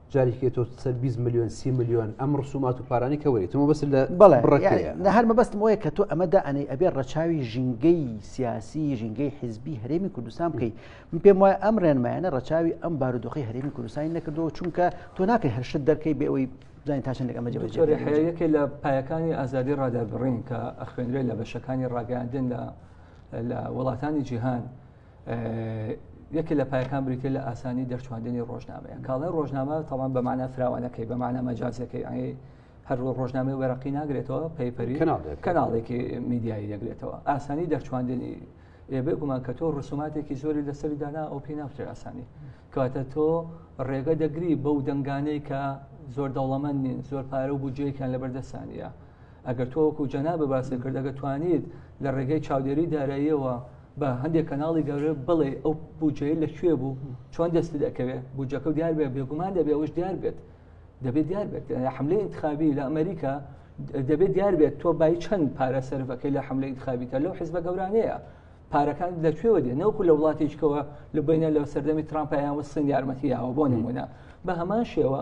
جارێکێ تۆ سەر 20 میلیۆن سی میلیۆن ئەم ڕسومات و پارانی کە وەریتمە بەس لە بەڵێ لە هەر مەبەستم وەیە کە تۆ ئەمەدا ئەنەی ئەبێ ڕەچاوی ژینگەی سیاسی ژینگەی حزبی هەرێمی کوردستان بکەیت من پێم وایە ئەم ڕێنمایانە ڕەچاوی ئەم بارودۆخی هەرێمی کوردستانی نەکردەوە چونکە تۆ ناکەی هەرشت دەرکەی بێەوەی زانین تاشن لەگەمە جەوەیەکێ لە پایەکانی ئازادی ڕادەربڕین کە ئەخوێنرێت لە بەشەکانی ڕاگەاندن لە لە وڵاتانی جیهان یەکێ لە پایەکان بریتێ لە ئاسانی دەرچواندنی ڕۆژنامەیە کاڵای ڕۆژنامە تاوان بەمانە فراوانەکەی بەمانە مەجازەکەی ئەنگی هەر ڕۆژنامەی وەرەقی ناگرێتەوە پەیپەری کەناڵێکی میدیایی دەگرێتەوە ئاسانی دەرچواندنی ئێبێ گومان کە تۆ ڕسوماتێکی زۆری لەسەری دانا ئەو پێی ناوترێ ئاسانی کاتە تۆ ڕێگە دەگری بەو دەنگانەی کە زۆر دەوڵەمەند نین زۆر پارە و بودجەیەکیان لەبەردەسانە ئەگەر تۆوەکو جەنا بە باسی کردەگە توانیت لە ڕێگەی چاودێری داراییەوە بە هەندێک کەناڵی گەورە بڵێ ئەو بودجەیە لە کوێ بوو چۆن دەست دەکەوێت بودجەکە دیار بێ بێگومان دەبێ ئەوش دیار بێت دەبێت دیار بێت حملەی انتخابی لە ئەمریکا دەبێت دیار بێت تۆ بای چەند پارە سەرەکەی لە حملە انتخابیکە لەو حزبە گەورانەیە پارەکان لە کوێوە دێ نەوەکو لە وڵاتێکەوە لە بینە لە سەردەمی ترامپیان وسن یارمەتییاوە بۆ نمونە بە هەمان شێوە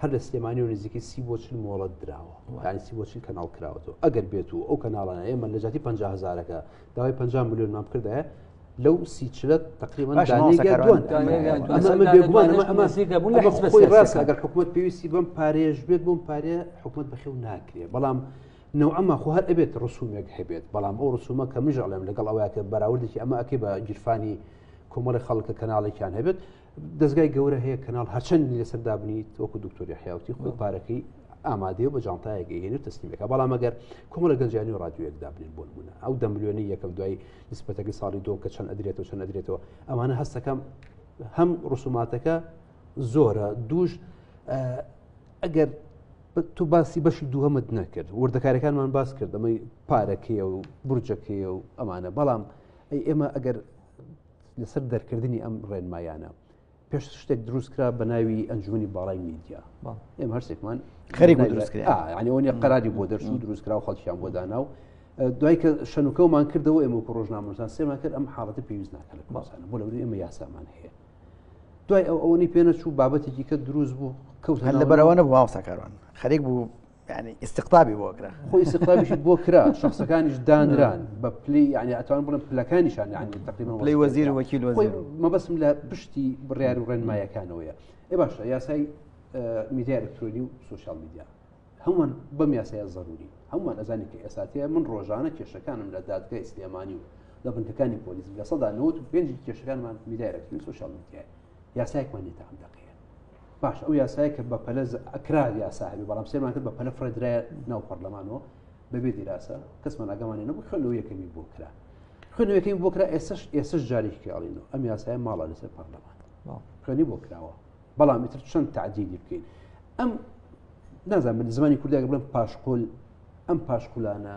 هەر لە سلێمانی و نزیکەی سی بۆ چل مۆڵەت دراوە یانی سی بۆ چل کەناڵ کراوەەوە ئەگەر بێت و ئەو کەناڵانە ئێمە لە جاتی پ هزارەکە داوای پ میلیۆنمان بکردایە لەو سیچلت تقریبان ڕاستگەر حکوومەت پێویستی بم پارێژ بێت بۆم پارێ حکوومەت بەخێو ناکرێت بەڵام نەو ئەمە خۆ هەر ئەبێت ڕسومێک هەبێت بەڵام ئەو ڕسومە کە مژەڵێم لەگەڵ ئەوەیە کە بەراوردێکی ئەمە ئەکەی بە گیرفانی کۆمەڵی خەڵکە کەناڵێکیان هەبێت دەستگای گەورە هەیە کەناڵ هەرچەندی لەسەر دابنیت وەکو دکتۆری حیاوتی خۆی پارەکەی ئامادەیە بە جانتایەکە هێنێت تەسلیمەکە بەڵام ئەگەر کۆمە لە گەنجانی و ڕادیوەک دابنێن بۆن بوون ئەو دەملیۆنی یەکەم دوای نسبەتەکە ساڵی دۆ کە چەند ئەدرێتەوە چەند ئەدرێتەوە ئەمانە هەستەکەم هەم ڕسوماتەکە زۆرە دوش ئەگەر تو باسی بەشی دووهمت نەکرد وردەکارەکانمان باس کرد ئەمەی پارەکەیە و برجەکەیە و ئەمانە بەڵام ئەی ئێمە ئەگەر لەسەر دەرکردنی ئەم ڕێنمایانە پێش شتێک دروستکرا بە ناوی ئەنجومی باڵای میدیا ئێمە هەرسێکمان خەری دروستکرانیە قەراری بۆ دەرچوو دروستکرا و خەڵکیان بۆ دانا و دوای کە شەنوکەمان کردەوە ئێمە و ڕۆژنامەسان سێمان کرد ئەم حاڵەتی پێویست ناکەن باسانە بۆ لەوری ئێمە یاسامان هەیە دوای ئەو ئەوەی پێنەچوو بابەتێکی کە دروست بوو کەوت هەر لە بەرەوەە بۆ ئاوساکاران خەرێک بوو ینی ئستقطابی بۆ کرا خۆی سقابیش بۆ کرا شخصەکانیش دانران بە پلی ینی ئەتوان بڵم پلەکانیشان ینی تقریبا پلی وەزیر وەکیل وەزیر مەبەسم لە پشتی بڕیار و ڕێنمایەکانەوەیە ئێ باشە یاسای میدیا ئەلکترۆنی و سوسیال میدیا هەمووان بەم یاسایە زەروری هەمووان ئەزانی کە ئێساتەیە من ڕۆژانە کێشەکانم لە دادگای سلێمانی و لە بنکەکانی پۆلیس لە سەدا 95 کێشەکانمان میدایرەکتنی سوسیال میدیای یاسایەکمان نیە تا ئەم دەقەیە باش ئەو یاسایە کە بە پەلە ئەکرا یاسا هەبی بەڵام سێمان کرد بە پەلە فرەدرای ناو پەرلەمانەوە بەبێ دیراسە کەسمان ئەگەمانی نەبوو خوێنەوە یەکەمی بۆ کرا خوێنەوەکەی بۆ کرا ئێسش ئێسش جارێکیڵینەوە ئەم یاسای ماڵە لەسەر پەرلەمان خوێنی بۆ کراوە بەڵام ئیتر چەند تعدیدی بکەین ئەم نازان من زمانی کوردێک بڵم پاشقل ئەم پاشقولانە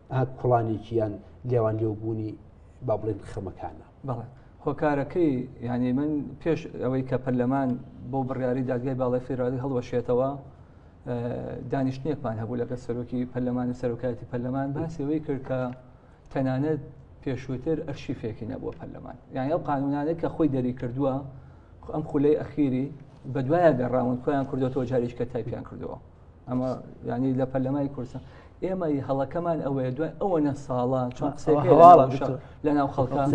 کوڵانێکیان لێوان لێوبوونی با بڵێن خەمەکانە بەڵێ هۆکارەکەی یعنی من پێش ئەوەی کە پەرلەمان بۆ بڕیاری دادگای باڵی فێرالی هەڵوەشێتەوە دانیشتنێکمان هەبوو لەگە سەرۆکی پەرلەمانی سەرۆکایەتی پەرلەمان باسەوەی کرد کە تەنانەت پێشووتر ئەرشی فێکی نەبووە پەرلەمان یان ئەو قانونانێک کە خۆی دەری کردووە ئەم خولەی ئەخیری بە دوایە گەڕاون خۆیان کردوەوە جارێککە تایپیان کردەوە ئەمە ینی لە پەرلەمای کوردستان ئێمە هەڵەکەمان ئەوەیە دوای ئەوەنە ساڵە چۆن لە ناو خەڵکان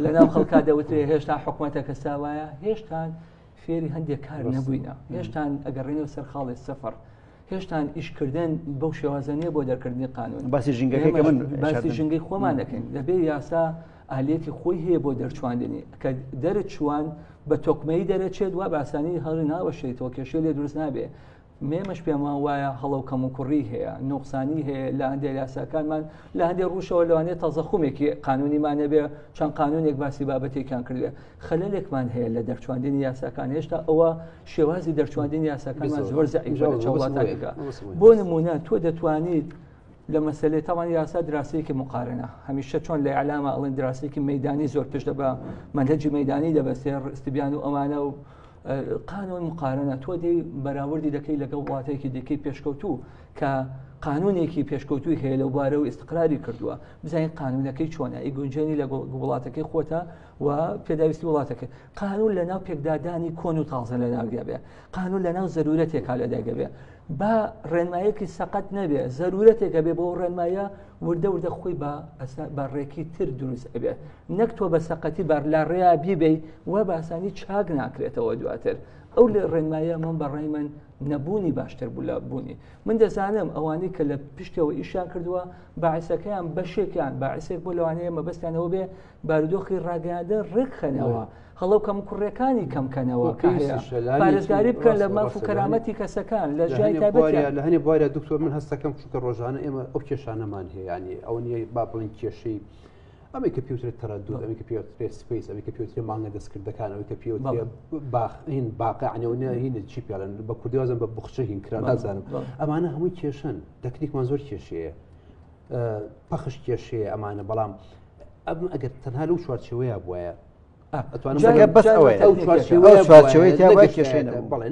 لە ناو خەڵکا دەوتێ هێشتا حکوومەتە کە ساوایە هێشتان فێری هەندێک کار نەبووینە هێشتان ئەگەڕێنەوە سەر خاڵی سەفەر هێشتان ئیشکردن بەو شێوازە نیە بۆ دەرکردنی قانون باسی ژنگەکە من باسی ژنگەی خۆمان دەکەین دەبێ یاسا ئالیەتی خۆی هەیە بۆ دەرچواندنی کە دەرت چوان بە تۆکمەی دەرەچێت وا باسانی هەڵی ناوەشێتەوە کێشەی لێ دروست نابێ مێمەش پێمان وایە هەڵەو کەم و کوڕی هەیە نوقسانی هەیە لە هەندێک یاساکانمان لە هەندێک ڕوشەوە لەوانێت تازەخومێکی قانونیمانە بێ چەند قانونێک باسی بابەتێکیان کردێ خەلەلێکمان هەیە لە دەرچواندنی یاساکان هێشتا ئەوە شێوازی دەرچواندنی یاساکانمان زۆر زەعیژە لە چاوڵاتانێکە بۆ نمونە تۆ دەتوانیت لە مەسەلێ تاوان یاسا دراسەیەکی مقارنە هەمیشە چۆن لە ئەلاما ئەڵێن دراسەیەکی مەدانی زۆر پشت بە منهجی مەدانی دەبەسێ ڕستبیان و ئەمانە و قانون مقارنە تۆ دی بەراوردی دەکەی لەگەڵ وڵاتێکی دیکەی پێشکەوتوو کە قانونێکی پێشکەوتوی هەیە لەو بارە و ئستقراری کردووە بزانین قانونەکەی چۆنە ئی گونجێنی لە وڵاتەکەی خۆتە و پێداویستی وڵاتەکە قانون لە ناو پێکدادانی کۆن و تازە لە ناودابێ قانون لە ناو زەرورەتێکا لە دایگەبێ با ڕێنمایەکی سەقەت نەبێ زەرورەتێکە بێ بۆ ڕێنمایە وردە وردە خۆی بە بە ڕێکی تر دروست ئەبێت نەک تۆ بە سەقەتی بار لا ڕێیا بیبی و باسانی چاک ناکرێتەوە دواتر ئەو لە ڕێنمایە من بەڕای من نەبوونی باشتر بوو لە بوونی من دەزانم ئەوانەی کە لە پشتەوە ئیشیان کردووە باعسەکەیان بەشێکیان باعسێک بۆ لەوانەیە مەبەستیانەوە بێ بارودۆخی ڕاگەیاندن ڕێکخەنەوە هەڵەو کەم کوڕەکانی کەمکەنەوە پارێزگاری بکەن لە ماف و کەرامەتی کەسەکان لە ژای لە هەنێ بوارە دکتۆر من هەستەکەم چونکە ڕۆژانە ئێمە ئەو کێشانەمان هەیەیانی ئەو نیە با بڵین کێشەی ئەمەی کە پێوترێ تەرەدو ئەمی کە پێوترێ سپیس ئەمی کە پێوترێ مانگە دەستکردەکان ئەوی کە پێوترێ باخین باقعنەوەە هین چی پێڵن بە کوردیوازم بە بخچە هین کرا نازانم ئەمانە هەمووی کێشن تەکنیکمان زۆر کێشەیە پەخش کێشەیە ئەمانە بەڵام ئەم ئەگەر تەنها لەو چوارچەوەیە بواە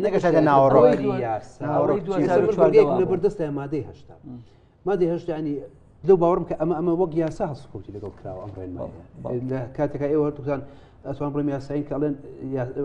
نەگەشتە ناوەڕۆبەردەستە مادەی هشتا مادەی هشتا ینی لەو باوەڕم کە ئەمە ئەمە وەک یاسا هەڵسکوتی لەگەڵ کراوە ئەم ڕێنمە لە کاتەکە ئێوە هەردووکان ئەتوان بڵێم یاسایی کە ئەڵێن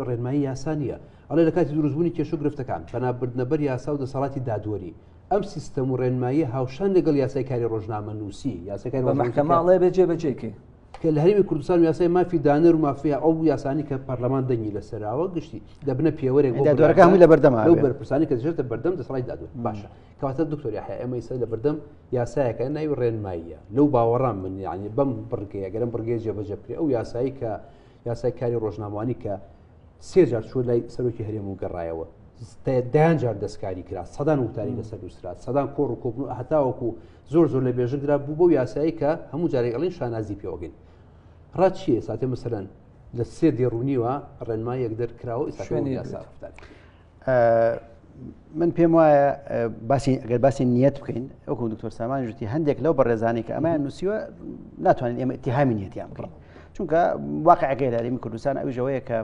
ڕێنمایی یاسا نیە ئەڵێ لە کاتی دروستبوونی کێشو گرفتەکان پەنابردنەبەر یاسا و دەسەڵاتی دادوەری ئەم سیستەم و ڕێنمایی هاوشان لەگەڵ یاسای کاری ڕۆژنامە نووسی یاسەکان بەمەحکەماڵێ بێجێ بەجێ کرد کە لە هەرمی کوردستان یاسای مافی دانەر و مافیا ئەو یاسانی کە پەرلەمان دەنگی لە سەراوە گشتی دەبنە پێوەرێک دەرەکانی لە بەردەما و بەرپرسانی کە دژێتە بەردەم دەسڵی دادو باشە کەواتە دکتۆری ئەمە ئیسە لە بەردەم یاسایەکە ناوی ڕێنماییە لەو باوەڕام من یعنی بەم بڕگەیە گەرم بڕگەی جێبەجەکرێ ئەو یاسایی کە یاسای کاری ڕۆژنامانی کە سێ جار چوە لای سەرۆکی هەرێم و گەڕایەوە دەیان جار دەستکاری کرا سەدان وتاری لەسەر دووسرا سەدان کۆڕ و کۆبن و هەتاوەکو زۆر زۆر لە بێژن درا بوو بۆ یاسایی کە هەموو جارێکڵین شانازی پێوەگەین ڕات چیە ساتێ مسەرەن لە سێ دێڕونیوە ڕێنما یەک دەرکراوە شوێنی یاسافتان. من پێم وایە باسی ئەگەر باسی نیەت بکەین ئەوکو دکتۆر سامان ژتی هەندێک لەو بەڕێزانانی کە ئەمایان نووسیوە ناتوانین ئێمە اتهامی نیەتیان بڕم چونکە واقعەکەی دارمی کوردستان ئەوژەوەیە کە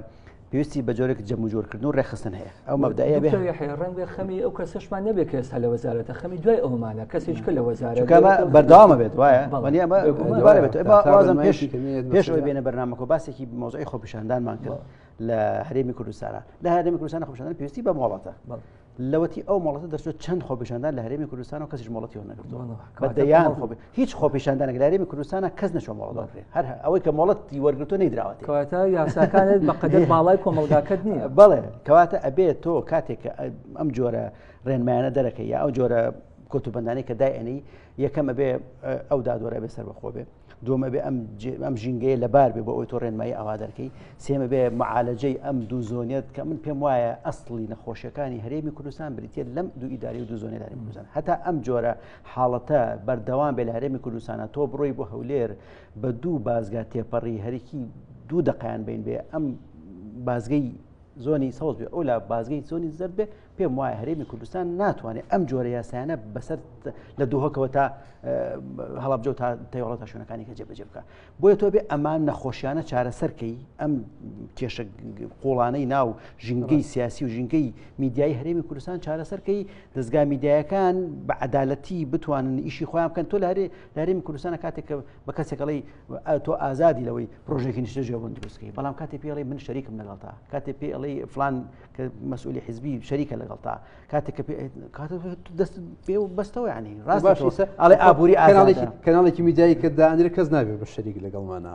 پێویستی بە جۆرێک جەمو جۆرکردن و ڕێخستن هەیە ئەو مەبدایە بێ ڕەنگە خەمی ئەو کەسشمان نەبێت کە ئێستا لە وەزارەتە خەمی دوای ئەومانە کەسێک کە لە وەزارە بەرداوامە بێت وایە پێش بێنە بەرنامەکە باسێکی مۆزای خۆپیشاندانمان کرد لە هەرێمی کوردستانە لە هەرێمی کوردستان خۆشدان پێویستی بە مۆڵەتە لەوەتی ئەو مۆڵەتە دەچێت چەند خۆپیشاندان لە هەرێمی کوردستان و کەسیش مۆڵەتی نەگرتوەدەیان هیچ خۆپیشاندانە لە هەرێمی کوردستانە کەس نەچۆ مۆڵەکرێ هەر ئەوەی کە مۆڵەتی وەرگتو نەیدراوەێت کەواتە یاساکانت بەقدر باڵای کۆمەلگاکەت نییە بڵێ کەواتە ئەبێت تۆ کاتێک ئەم جۆرە ڕێنمایانە دەرەکە یا ئەو جۆرە کۆتوبندانی کە دای ئەنی یەکەمە بێ ئەو دادوەرە بێ سەر بەخۆ بێ دومە بێ ئەم ئەم ژینگەیە لەبار بێ بۆ ئەوی تۆ ڕێنمایی ئەوا دەرکەی سێمە بێ معالەجەی ئەم دوو زۆنێت کە من پێم وایە ئەسڵی نەخۆشیەکانی هەرێمی کوردستان بریتە لەم دوو ئیداری و دوو زۆنێداری کوردستان هەتا ئەم جۆرە حاڵەتە بەردەوام بێ لە هەرێمی کوردستانە تۆ بڕۆی بۆ هەولێر بە دوو بازگا تێپەڕی هەرکی دوو دقیان بین بێ ئەم بازگەی زۆنی سەوز بێ ئەو لا بازگەی زۆنی زەر بێ پێم وایە هەرێمی کوردستان ناتوانێت ئەم جۆرە یاسایانە بەسەر لە دوهکەوە تا هەڵبجە تا تەوەڵە تا شوێنەکانی کە جێبەجێ بکە بۆیە تۆ بێ ئەمان نەخۆشیانە چارەسەرکەی ئەم کێشە قوڵانەی ناو ژینگەی سیاسی و ژینگەی میدیای هەرێمی کوردستان چارەسەرکەی دەستگا میدیایەکان بە عدالەتی بتوانن ئیشی خۆیان بکەن تۆ لارێ لارێمی کوردستانە کاتێک کە بە کەسێکڵی تۆ ئازادی لەوەی پرۆژێکی نیشتە جێبوون دروستکەی بەڵام کاتی پێڵی من شەریکم لەگەڵتا کاتێ پێڵی فلان کە مەسئولی حزبی شەریکە لەگەڵتا کاتێک دەست پێ و بەستەوە ینی ڕاست ئەڵێ ئابووری ئاراڵێکی کەناڵێکی میدایی کە دانرێ کەس نابێت بە شەریک لەگەڵمانە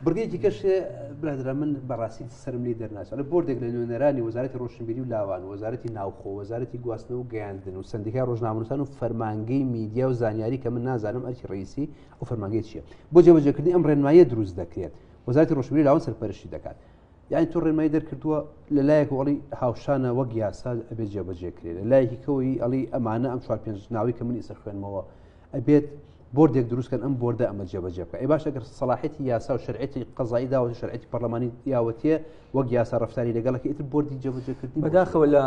بڕگەیەکی کەش برادرا من بەڕاستی سرم لی دەرناچڵ بردێک لە نوێنەرانی وەزارەتی ڕۆشنبیری و لاوان وەزارەتی ناوخۆ وەزارەتی گواستنەوە و گەیاندن و سندیکا ڕۆژنامەنووسان و فەرمانگەی میدیا و زانیاری کە من نازانم ئەرکی ڕیسی و فەرمانگەی چیە بۆ جێبەجێکردنی ئەم ڕێنمایە دروست دەکرێت وەزارەتی ڕۆشنبیری لاوان سەرپەرشی دەکات یعنی تۆ ڕێمای دەرکردووە لە لایەک وڵی هاوشانە وەک یاسا ئەبێت جێبەجێکرێت لە لایەکی کەەوەی ئەڵی ئەمانە ئەم چوار پێنج ناوی کە من ئیسە خوێنمەوە ئەبێت بردێک دروستکەن ئەم بردە ئەمە جێبەجێ بکە ئەی باش ئەگەر سەڵاحەتی یاسا و شرعەتی قەزایی داوە و شرعەتی پەرلەمانی یاوەتیە وەک یاسا ڕفتاری لەگەڵەکە ئیتر بردی جێبەجێکردنی بەداخەوە لە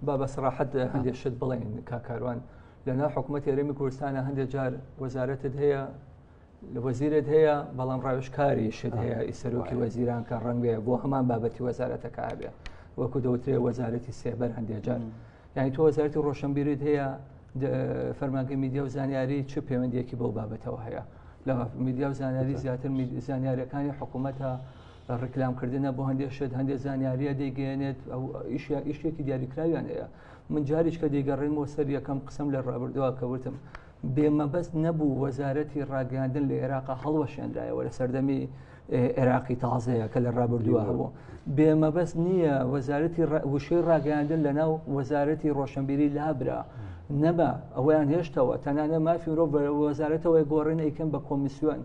بابە سەراحەت هەندێک شت بڵێن کاکاروان لەنا حکوومەت یاریمی کوردستانە هەندێک جار وەزارەتت هەیە لە وەزیرت هەیە بەڵام ڕاوشکاری شت هەیە ئیسەرۆکی وەزیران کە ڕەنگەیە بۆ هەمان بابەتی وەزارەتەکە هەبێ وەکو دەوترێ وەزارەتی سێبەر هەندێجار یعنی تۆ وەزارتی ڕۆشنبیرت هەیە فەرمانگە میدیا و زانیاری چ پەیوەندیەکی بەو بابەتەوە هەیە لە میدیا و زانیاری زیاتر زانیارەکانی حکوومەتە ڕکلامکردنە بۆ هەندێک شت هەندێک زانیاریە دەیگەێنێت ئەو ئیشیا ئیشتێکی دیاریکراویان هەیە من جاریش کە دەیگەڕێنەوە سەر یەکەم قسم لە ڕابردووە کەوتم بێ مەبەست نەبوو وەزارەتی ڕاگەاندن لە عێراقا هەڵوەشێنرایەوە لە سەردەمی عێراقی تازەیە کە لە ڕابردووە هەبوو بێ مەبەست نییە وەزارەتی وشەی ڕاگەاندن لە ناو وەزارەتی ڕۆشنبیری لابرا نەبا ئەویان هێشتەوە تەنانە مافی مرۆڤ وەزارەتەوەی گۆڕین ئەیکەن بە کۆمیسیۆن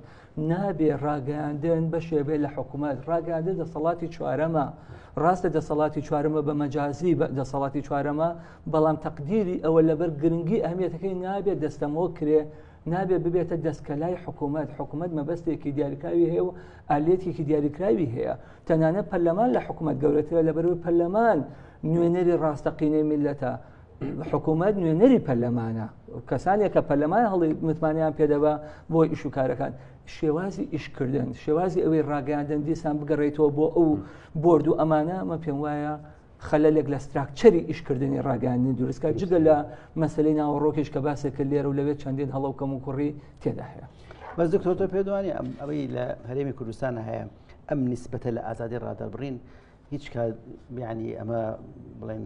نابێ ڕاگەیاندن بەشێ بێ لە حکوومەت ڕاگەاندە دەسەڵاتی چوارەمە ڕاستە دەسەڵاتی چوارەمە بە مەجازی دەسەڵاتی چوارەمە بەڵام تەقدیری ئەوە لەبەر گرنگی ئەهمیەتەکەی نابێت دەستەمۆ کرێ نابێ ببێتە دەستکەلای حکوومەت حکوومەت مەبەستێکی دیاریکراوی هەیە و ئالێتێکی دیاریکراوی هەیە تەنانە پەرلەمان لە حکوومەت گەورەترە لە بەرەوەی پەرلەمان نوێنەری ڕاستەقینەی میلەتە حکوومەت نوێنەری پەرلەمانە کەسانێک کە پەرلەمان هەڵی متمانیان پێدەبا بۆ ئیش و کارەکان شێوازی ئیشکردن شێوازی ئەوەی ڕاگەاندن دیسان بگەڕێیتەوە بۆ ئەو بردو و ئەمانە مە پێم وایە خەلەلێک لە ستراکچەری ئیشکردنی ڕاگەاندنی دروستکە جگە لە مەسلەی ناوەڕۆکیش کە باسێکە لێرە و لەوێت چەندین هەڵە و کەم و کوڕی تێدا هەیە بەس دکتۆرتە پێدوانی ئەم ئەوەی لە هەرێمی کوردستان هەیە ئەم نسبەتە لە ئازادی ڕادەبڕین هیچ کات بیانی ئەمە بڵێن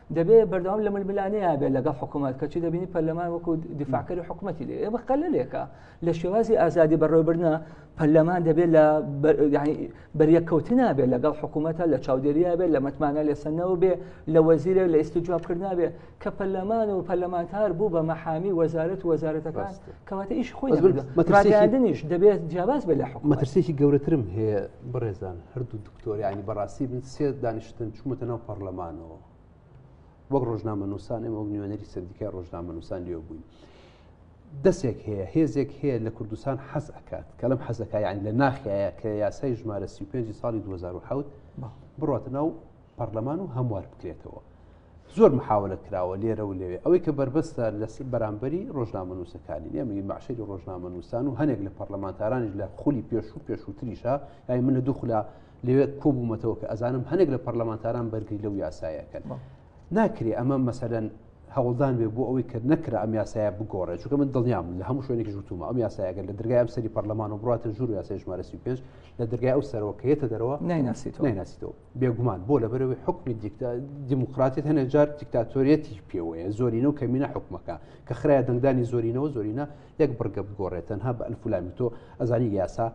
دەبێت بەردەوام لە ململانەیە بێت لەگەڵ حکوومەت کە چی دەبینی پەرلەمان وەکو دیفاکەری حکوومەتی لێ ئێمە قەلەلێکە لە شێوازی ئازادی بەڕێوبرنە پەرلەمان دەبێت لە بەریەککەوتن نابێت لەگەڵ حکوومەتە لە چاودێرییا بێت لە متمانە لێسەنەوە بێ لە وەزیرە لە ئیستی جوابکردنابێ کە پەرلەمان و پەرلەمانتار بوو بە مەحامی وەزارەت وەزارەتەکان کەواتە ئیش خۆی ڕاگەاندنیش دەبێت جیاواز بێت لە حکومەترسێکی گەورەترم هەیە بڕێزان هەردوو تۆریانی بەڕاستی من سێ دانیشتن چوومەتە ناو پەرلەمانەوە وەک ڕۆژنامە نووسان ئێمە وەک نوێنەری سندیکای ڕۆژنامە نووسان لێ بووین دەسێک هەیە هێزێک هەیە لە کوردستان حەز ئەکات کە لەم حەزەکە یان لە ناخایە کە یاسای ژمارە 35 ساڵی 2010 بڕاتە ناو پەرلەمان و هەموار بکرێتەوە زۆر محاولە کراوە لێرە و لەوێ ئەوەی کە بەربەستە لە بەرامبەری ڕۆژنامەنووسەکانی نێمەی مەعشری ڕۆژنامەنووسان و هەنێک لە پەرلەمانتارانیش لە خولی پێش و پێشووتریشە یای من لە دوخلا لەوێ کۆبوومەتەوە کە ئەزانم هەنێک لە پەرلەمانتاران بەرگری لەو یاسایەکەن ناکرێ ئەمە مەسەدەن هەوڵدان بێ بۆ ئەوەی کە نەکرا ئەم یاسایە بگۆڕێ چکە من دڵنیام لە هەموو شوێنێکی وتومە ئەم یاسایەگەر لە دەرگای ئەم سەری پەرلەمان و بڕاتە ژوور یاسای ژمارەسی پێش لە دەرگای ئەو سەرۆکەیەتە دەرەوە نایناسیتەوە نایناسیتەوە بێگومان بۆ لەبەرەوەی حکومی دیموکراتیت هەنێ جار دیکتاتۆریەتی پێوەیە زۆرینە و کەمینە حکومەکە کە خراە دەنگدانی زۆرینەوە زۆرینە یەک بڕگە بگۆڕێت تەنها بە ئەلفلامی تۆ ئەزانی یاسا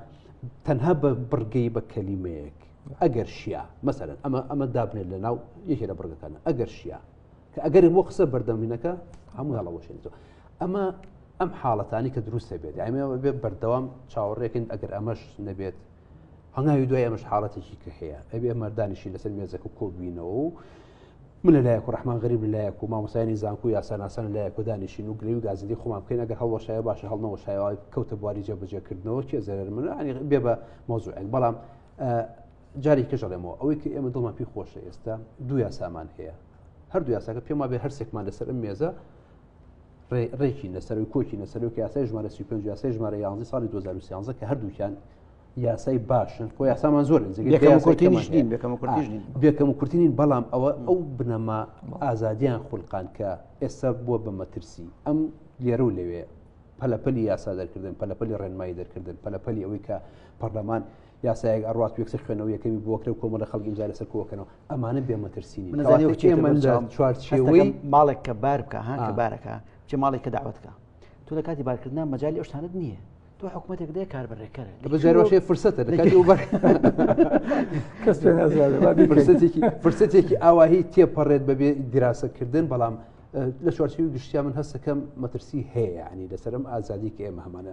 تەنها بە بڕگەی بە کەلیمەیەک ئەگەر شیە مەسەرن ئەمە ئەمە دابنێت لە ناو یەکێ لە بڕگەکانە ئەگەر شیە کە ئەگەر بۆ قسە بەردەمینەکە هەموو هەڵەوەشێنێتەوە ئەمە ئەم حاڵەتانی کە دروستە بێت ئەمێ بێ بەردەوام چاوەڕێکن ئەگەر ئەمەش نەبێت هەنگاوی دوای ئەمەش حاڵەتێکی کە هەیە ئەبێ مەردانیشی لەسەر مێزەکە و کۆبوینەوە و من لەلایەک و ڕحمان غریب لەلایەک و مامۆسایانی زانکو یاساناسان لایەک و دانیشین و گرێوی گازندی خۆمان بکەین ئەگەر هەڵەشایە باشە هەڵنەوە شایوای کەوتە بواری جێبەجێکردنەوە کێ زەرەر من ینی بێ بە مۆزوعێک بەڵام جاری کەژەڵێمەوە ئەوەی کە ئێمە دڵمان پێی خۆشە ئێستا دو یاسامان هەیە هەردوو یاساکە پێما بێ هەرسێکمان لەسەر ئەم مێزە ڕێکی لەسەرەوەی کۆکی لەسەرەوە یاسای ژمارە سی پێنج یاسای ژمارە یانزی ساڵی 2013 کە هەردووکیان یاسای باشن خۆ یاسامان زۆر بێکەم و کورتترین بەڵام ئەوە ئەو بنەما ئازادیان خولقان کە ئێستا بووە بە مەترسی ئەم لێرە و لەوێ پەلەپەلی یاسا دەرکردن پەلەپەلی ڕێنمایی دەرکردن پەلەپەلی ئەوەی کە پەرلەمان یاسایەک ئەڕات یەکسەر خوێنەوە یەکەمی بۆکرە و کۆمەڵە خەڵک ئیمزای لەسەر کۆکەنەوە ئەمانە بێمەترسینی چوارچێوەی ماڵێک کە بار بکە ها کە بارەکە چه ماڵێک کە داوەتکە تۆ لە کاتی بارکردنا مەجای ئەوشتانت نییە تۆ حکوومەتێک دێ کاربەرێکەر بەجارۆشێ فرسەتە فرسەتێکی ئاواهی تێپەڕێت بەبێ دیراسەکردن بەڵام لە چوارچوی گشتیا من هەستەکەم مەترسی هەیە ینی لەسرم ئازادی کە ئێمە هەمانە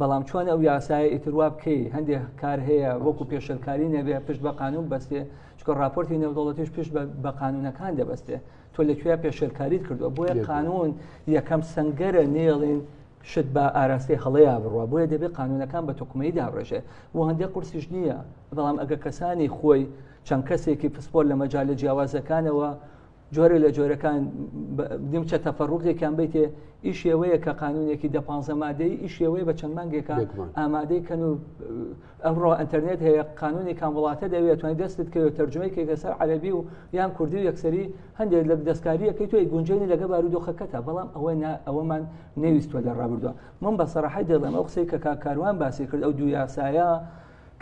بەڵام چۆن ئەو یاسایە ئیتر وا بکەی هەندێک کار هەیە وەکو پێشلکاری نەبێ پشت بە قانون بەستێ چکە راپۆرتی نێودوڵەتیش پشت بە قانونەکان دەبەستێ تۆ لەکوێ پێشلکاریت کردووە بۆیە قانون یەکەم سنگەرە نێڵین شت بە ئاراستەی هەڵەیە بڕە بۆیە دەبێت قانونەکان بە تۆکمەی دابڕێژێ و هەندێک قورسیش نییە بەڵام ئەگە کەسانی خۆی چەند کەسێکی پسپۆر لە مەجای لە جیاوازەکانەوە جۆرە لە جۆرەکان دمچە تەفەڕوقێکیان بیتێ ئی شێوەیە کە قانونێکی دە پ مادەی ئی شێوەیە بە چەند مانگێکە ئامادەی کەن و ئەمڕۆ ئەتەرنێت هەیە قانونی کام وڵاتە دەوێت توانین دەستت کەوێت تەرجمەیەکی کەسەر عەربی و یان کوردی و یەکسری هەندێک لە دەستکاریەکەی توی گونجێنی لەگە بارودۆخەکەتە بەڵام ئەوە ئەوەمان نەویستوە لە ڕابردووە من بە سەراحی دەڵێم ئەو قسەی کە کاکاروان باسی کرد ئەو دوو یاسایە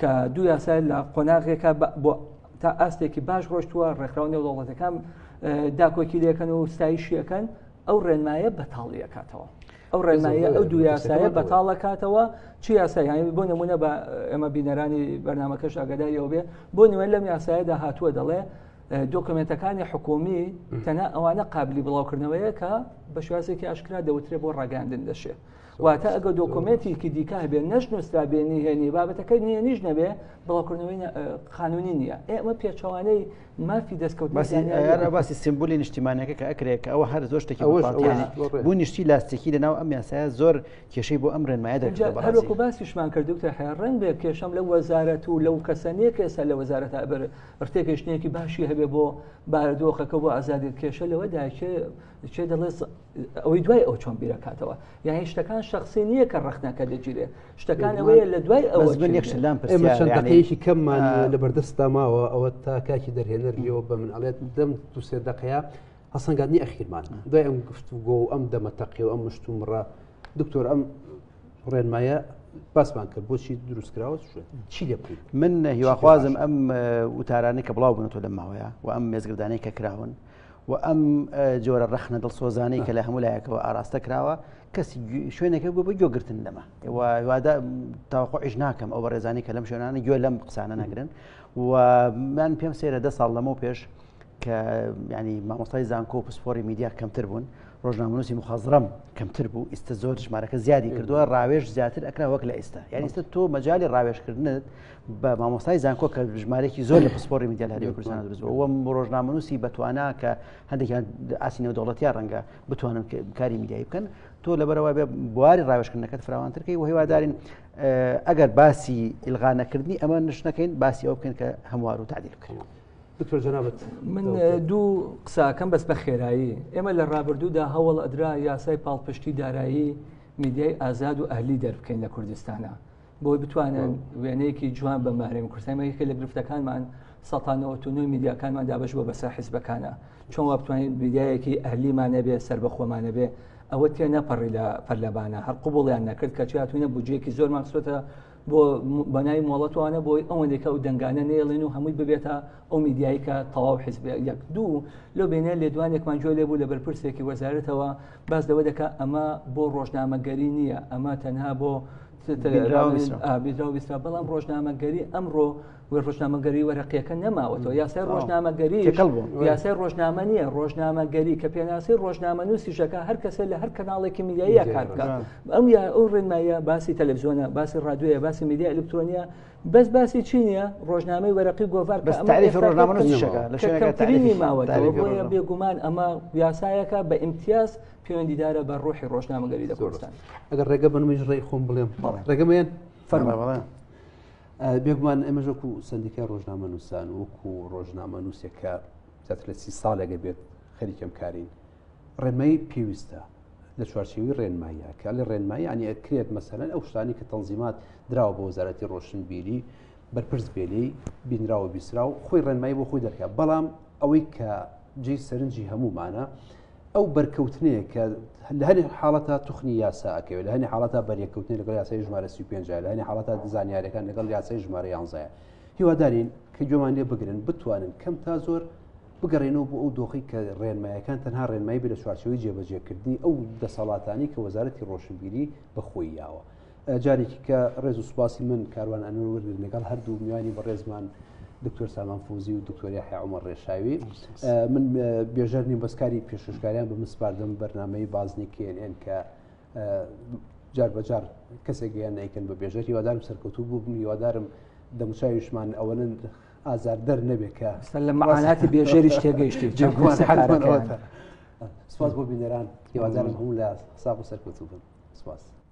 کە دوو یاسای لە قۆناغێکە بۆ تا ئاستێکی باش ڕۆشتووە ڕێکخراو نێودەوڵەتەکان داکۆکی لەکەن و ستایشیەکەن ئەو ڕێنمایە بەتاڵیەکاتەوە ئەو ڕێنمایە ئەو دوو یاسایە بەتاڵەکاتەوە چی یاسایانی بۆ نمونە بە ئێمە بینەرانی بەرنمەکەش ئەگەداریەوە بێ بۆ نوێن لەم یاسایەدا هاتووە دەڵێ دۆکمنتەکانی حکومی تەنە ئەوانە قابلی بڵاوکردنەوەیە کە بە شوازێکی ئاشکرا دەوترێ بۆ ڕاگەاندن دەشێت واتە ئەگە دۆکۆمێتیکی دیکە هەبێ نەش نووسرا بێ نهێنی بابەتەکە نهێنیش نەبێ بڵاوکردنەوەی قانونی نییە ئێمە پێچوانەی مافی دەستکەوت باسی سمبولی نیشتیمانەکە کە ئەکرێت کە ئەوە هەر زۆر شتێکی بۆ نیشتی لاستێکی لەناو ئەم یاسایە زۆر کێشەی بۆ ئەم ڕێنمایە دەکەوەکو باسیشمان کردوتە هەیە ڕنگ بێ کێشەم لە وەزارەت و لەو کەسەنیە کێسە لە وەزارەت ئەبەر ڕتێکشتێکی باشی هەبێ بۆ بارودۆخەکە بۆ ئازادی کێشە لەوە داچێ چێ دەڵێت ئەوەی دوای ئەو چۆن بیرەکاتەوە یان شتەکان شخصی نییە کە ڕخنەکە دەگیرێ شتەکان ئەوەیە لە دوای ئەوە من یەکشلام پرسیارێکی کەممان لە بەردەستا ماوە ئەوە تا کاکی دەرهێنەر لێەوە بە من ئەڵێت دەم دو سێ دقەیە هەسەنگاتنی ئەخیرمان دوای ئەم گفت و گۆ ئەم دەمەتەقی و ئەم مشتوم ڕە دکتۆر ئەم ڕێنمایە باسمان کرد بۆچی دروستکراوە چی لێ بکەیت من هیواخوازم ئەم وتارانە کە بڵاو بنەوە لە ماوەیە و ئەم مێزگردانەی کە کراون و ئەم جۆرە ڕەخنە دڵسۆزانەی کە لە هەموو لایەکەوە ئاراستە کراوە کەسی شوێنەکە بوو بە گوێگرتن لەمە وادا تاوەخۆش ناکەم ئەو بەڕێزانانی کە لەم شوێنانە گوێ لەم قسانە نەگرن و من پێم سێرە دە ساڵ لەمە پێش کە ینی مامۆستای زانکۆ و پسپۆری میدیا کەمتر بوون ڕۆژنامەنووسی مخازڕم کەمتر بوو ئیستا زۆر ژمارەکە زیادی کردووە ڕاوێژ زیاتر ئەکرا وەک لە ئێستا یان ئیستا تۆ مەجای ڕاوێژکردنت بە مامۆستای زانکۆ کە ژمارێکی زۆر لە پسپۆری میدیا لە هەرێمی کوردستان دروست بووە وەم ڕۆژنامەنووسی بەتوانا کە هەندێکیان ئاسی نێودەوڵەتیان ڕەنگە بتوانن کاری میدیایی بکەن تۆ لەبەرەوە بێ بواری ڕاوێژکردنەکەت فراوانترکەی و هیوادارین ئەگەر باسی ئیلغانەکردنی ئەمە نشتەکەین باسی ئەو بکەن کە هەموار و تعدیل بکەین. دکتۆر جنابەت من دوو قساکەم بەس بە خێرایی ئێمە لە ڕابردوودا هەوڵ ئەدرا یاسای پاڵپشتی دارایی میدیای ئازاد و ئەهلی دەربکەین لە کوردستانە بۆی بتوانن وێنەیەکی جوان بە مارێن کوردستانمەکە لە گرفتەکانمان سەتانەوەتونوی میدیاکانمان دابش بۆ بەسەر حیزبەکانە چۆن وا بتوانین میدیایەکی ئەهلیمانە بێ سەر بە خۆمانە بێ ئەوە تێ نەپەڕی لە پەرلەبانە هەر قوبڵیان نەکرد کە چاتوینە بجێکی زۆر ماکسۆتە بۆ بەناوی مۆڵەتوانە بۆی ئەوەندێکە و دەنگانە نێڵێن و هەمووی ببێتە ئەو میدیایکە تەواو حزب یەک دوو لۆ بێنە لێدوانێکمان جۆ لێ بوو لە بەرپرسێکی وەزارەتەوە باس دەوە دەکە ئەمە بۆ ڕۆژنامەگەری نییە ئەمە تەنها بۆ بیدراویسرا بەڵام ڕۆژنامەگەری ئەمڕۆ ڕۆژنامەگەری وەرەقیەکە نەماوەەوە یاسای ڕۆژنامەگەری یاسای ڕۆژنامە نییە ڕۆژنامەگەری کە پێناسی ڕۆژنامە نووسیشەکە هەر کەسە لە هەر کەناڵێکی میدیایە کار بکات ئەم یا ئەو ڕێنمایە باسی تەلەڤزیۆنە باسی ڕادوێە باسی میدیا ئەلکترۆنیە بەس باسی چی نییە ڕۆژنامەی وەرەقی گۆڤار ڕۆژنامەکە لە شوێنەکەترینی ماوە بێگومان ئەمە یاسایەکە بە ئیمتیاز پەیوەندیدارە بە ڕۆحی ڕۆژنامەگەری لە کوردستان ئەگەر ڕێگە بنمیش ڕێی خۆم بڵێم ڕێگەمەیەن فەرما بەڵێ بێگومان ئەمەش وەکو سندیکە ڕۆژنامە نووسان وەکو ڕۆژنامە نووسێکە زیاتر لە سی ساڵێگە بێت خەریکەم کارین ڕێمەی پێویستە لە چوارچێوی ڕێنماییە کە لە ڕێنمایی ئەنی ئەکرێت مەسەرەن ئەو شتانی کە تەنزیمات دراوە بۆ وەزارەتی ڕۆشنبیری بەرپرس بێلی بینراوە بیسرا و خۆی ڕێنمایی بۆ خۆی دەکات بەڵام ئەوەی کە جێی سەرنجی هەمومانە ئەو بەرکەوتنەیە کە لە هەنێ حاڵەتە توخنی یاسا ئەکەوێت لە هەنێ حاڵەتە بەریەکەوتنی لەگەڵ یاسای ژمارە 35 لە هەنێ حاڵەتە دزانیارەکان لەگەڵ یاسای ژمارە یانزایە هیوادارین کە گوێمان لێ بگرن بتوانن کەم تا زۆر بگەڕێنەوە بۆ ئەو دۆخی کە ڕێنمایەکان تەنها ڕێنمایی بە لە چوارچەوەی جێبەجێکردنی ئەو دەسەڵاتانی کە وەزارەتی ڕۆشنبیری بەخۆی یاوە جارێکی کە ڕێز و سوپاسی من کاروان ئەنور وردن لەگەڵ هەردوو میوانی بەڕێزمان دکتۆر سامان فوزی و دکتۆری حیعمە ڕێشاوی من بێژەر نیم بەسکاری پێششکاریان بە مسپاردم بەرنمەی بازنی کێنێن کە جار بەجار کەسێک گەیان نیکەن بە بێژەر هیوادارم سەرکەوتو بوو بم هیوادارم دەموچاویشمان ئەوەن ئازار دەر نەبێت کە لە مەعاناتی بێژەریش تێگەیشتی سپاس بۆ بینەران هیوادارم هەموو لە حساب و سەرکەوتو بن سپاس